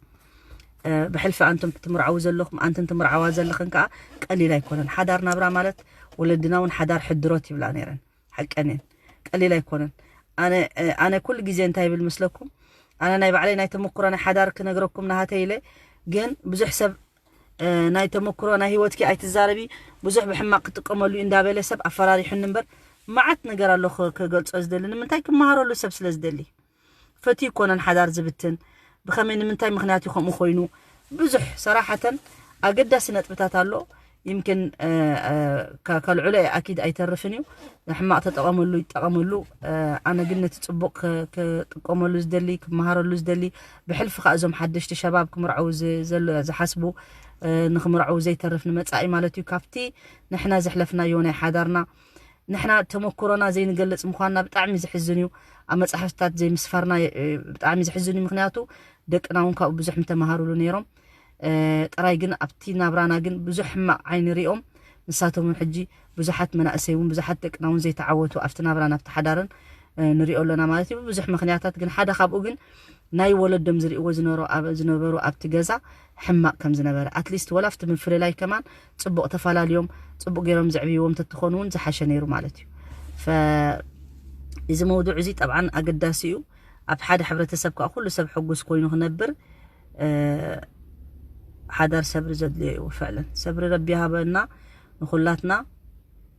ብሕልፊ ኣንቱም ትምርዓው ዘለኹም ኣንትን ትምርዓዋ ዘለኽን ከዓ ቀሊል ኣይኮነን ሓዳር ናብራ ማለት ወለድና እውን ሓዳር ሕድሮት ይብላ ነይረን ሓቀን እየን ቀሊል ኣይኮነን ኣነ ኣነ ኩሉ ግዜ እንታይ ይብል ምስለኩም ኣነ ናይ ባዕለይ ናይ ተመኩሮ ናይ ሓዳር ክነግረኩም ናሃተይ ኢለ ግን ብዙሕ ሰብ ናይ ተመክሮ ናይ ህይወትኪ ኣይትዛረቢ ብዙሕ ብሕማቅ ክጥቀመሉ እዩ እንዳበለ ሰብ ኣፈራሪሑኒ እምበር መዓት ነገር ኣሎ ክገልፆ ዝደሊ ንምንታይ ክመሃረሉ ሰብ ስለ ዝደሊ ፈትዩ ኣይኮነን ሓዳር ዝብትን ብከመይ ንምንታይ ምክንያት እዩ ከምኡ ኮይኑ ብዙሕ ሰራሓተን ኣገዳሲ ነጥብታት ኣሎ ይምክን ከልዕሎ እየ ኣኪድ ኣይተርፍን እዩ ንሕማቅ ተጠቀመሉ ይጠቀመሉ ኣነ ግን ነቲ ፅቡቅ ክጥቀመሉ ዝደሊ ክመሃረሉ ዝደሊ ብሕልፊ ከዓ እዞም ሓደሽቲ ሸባብ ክምርዐው ዝሓስቡ ንክምርዐው ዘይተርፍ ንመፃኢ ማለት እዩ ካብቲ ንሕና ዘሕለፍናዮ ናይ ሓዳርና ንሕና ተመኩሮና ዘይንገልጽ ምኳንና ብጣዕሚ ዘሕዝን እዩ ኣብ መጻሕፍትታት ዘይምስፋርና ብጣዕሚ ዘሕዝን እዩ ምክንያቱ ደቅና እውን ካብኡ ብዙሕ ምተማሃሩሉ ነይሮም ጥራይ ግን ኣብቲ ናብራና ግን ብዙሕ ሕማቅ ዓይኒ ሪኦም ንሳቶም እውን ሕጂ ብዙሓት መናእሰይ እውን ብዙሓት ደቅና እውን ዘይተዓወቱ ኣብቲ ናብራን ኣብቲ ሓዳርን ንሪኦ ኣሎና ማለት እዩ ብብዙሕ ምክንያታት ግን ሓደ ካብኡ ግን ናይ ወለዶም ዝርእዎ ዝነበሩ ኣብቲ ገዛ ሕማቅ ከም ዝነበረ ኣትሊስት ወላ ኣብቲ ምፍልላይ ከማን ጽቡቅ ተፋላልዮም ጽቡቅ ገሮም ዘዕብይዎም ተትኾኑ ውን ዝሓሸ ነይሩ ማለት እዩ እዚ መውዱዕ እዚ ጠብዓን ኣገዳሲ እዩ ኣብ ሓደ ሕብረተሰብ ከዓ ኩሉ ሰብ ሕጉስ ኮይኑ ክነብር ሓዳር ሰብሪ ዘድልዮ እዩ ፍዕለን ሰብሪ ረቢ ሃበና ንኩላትና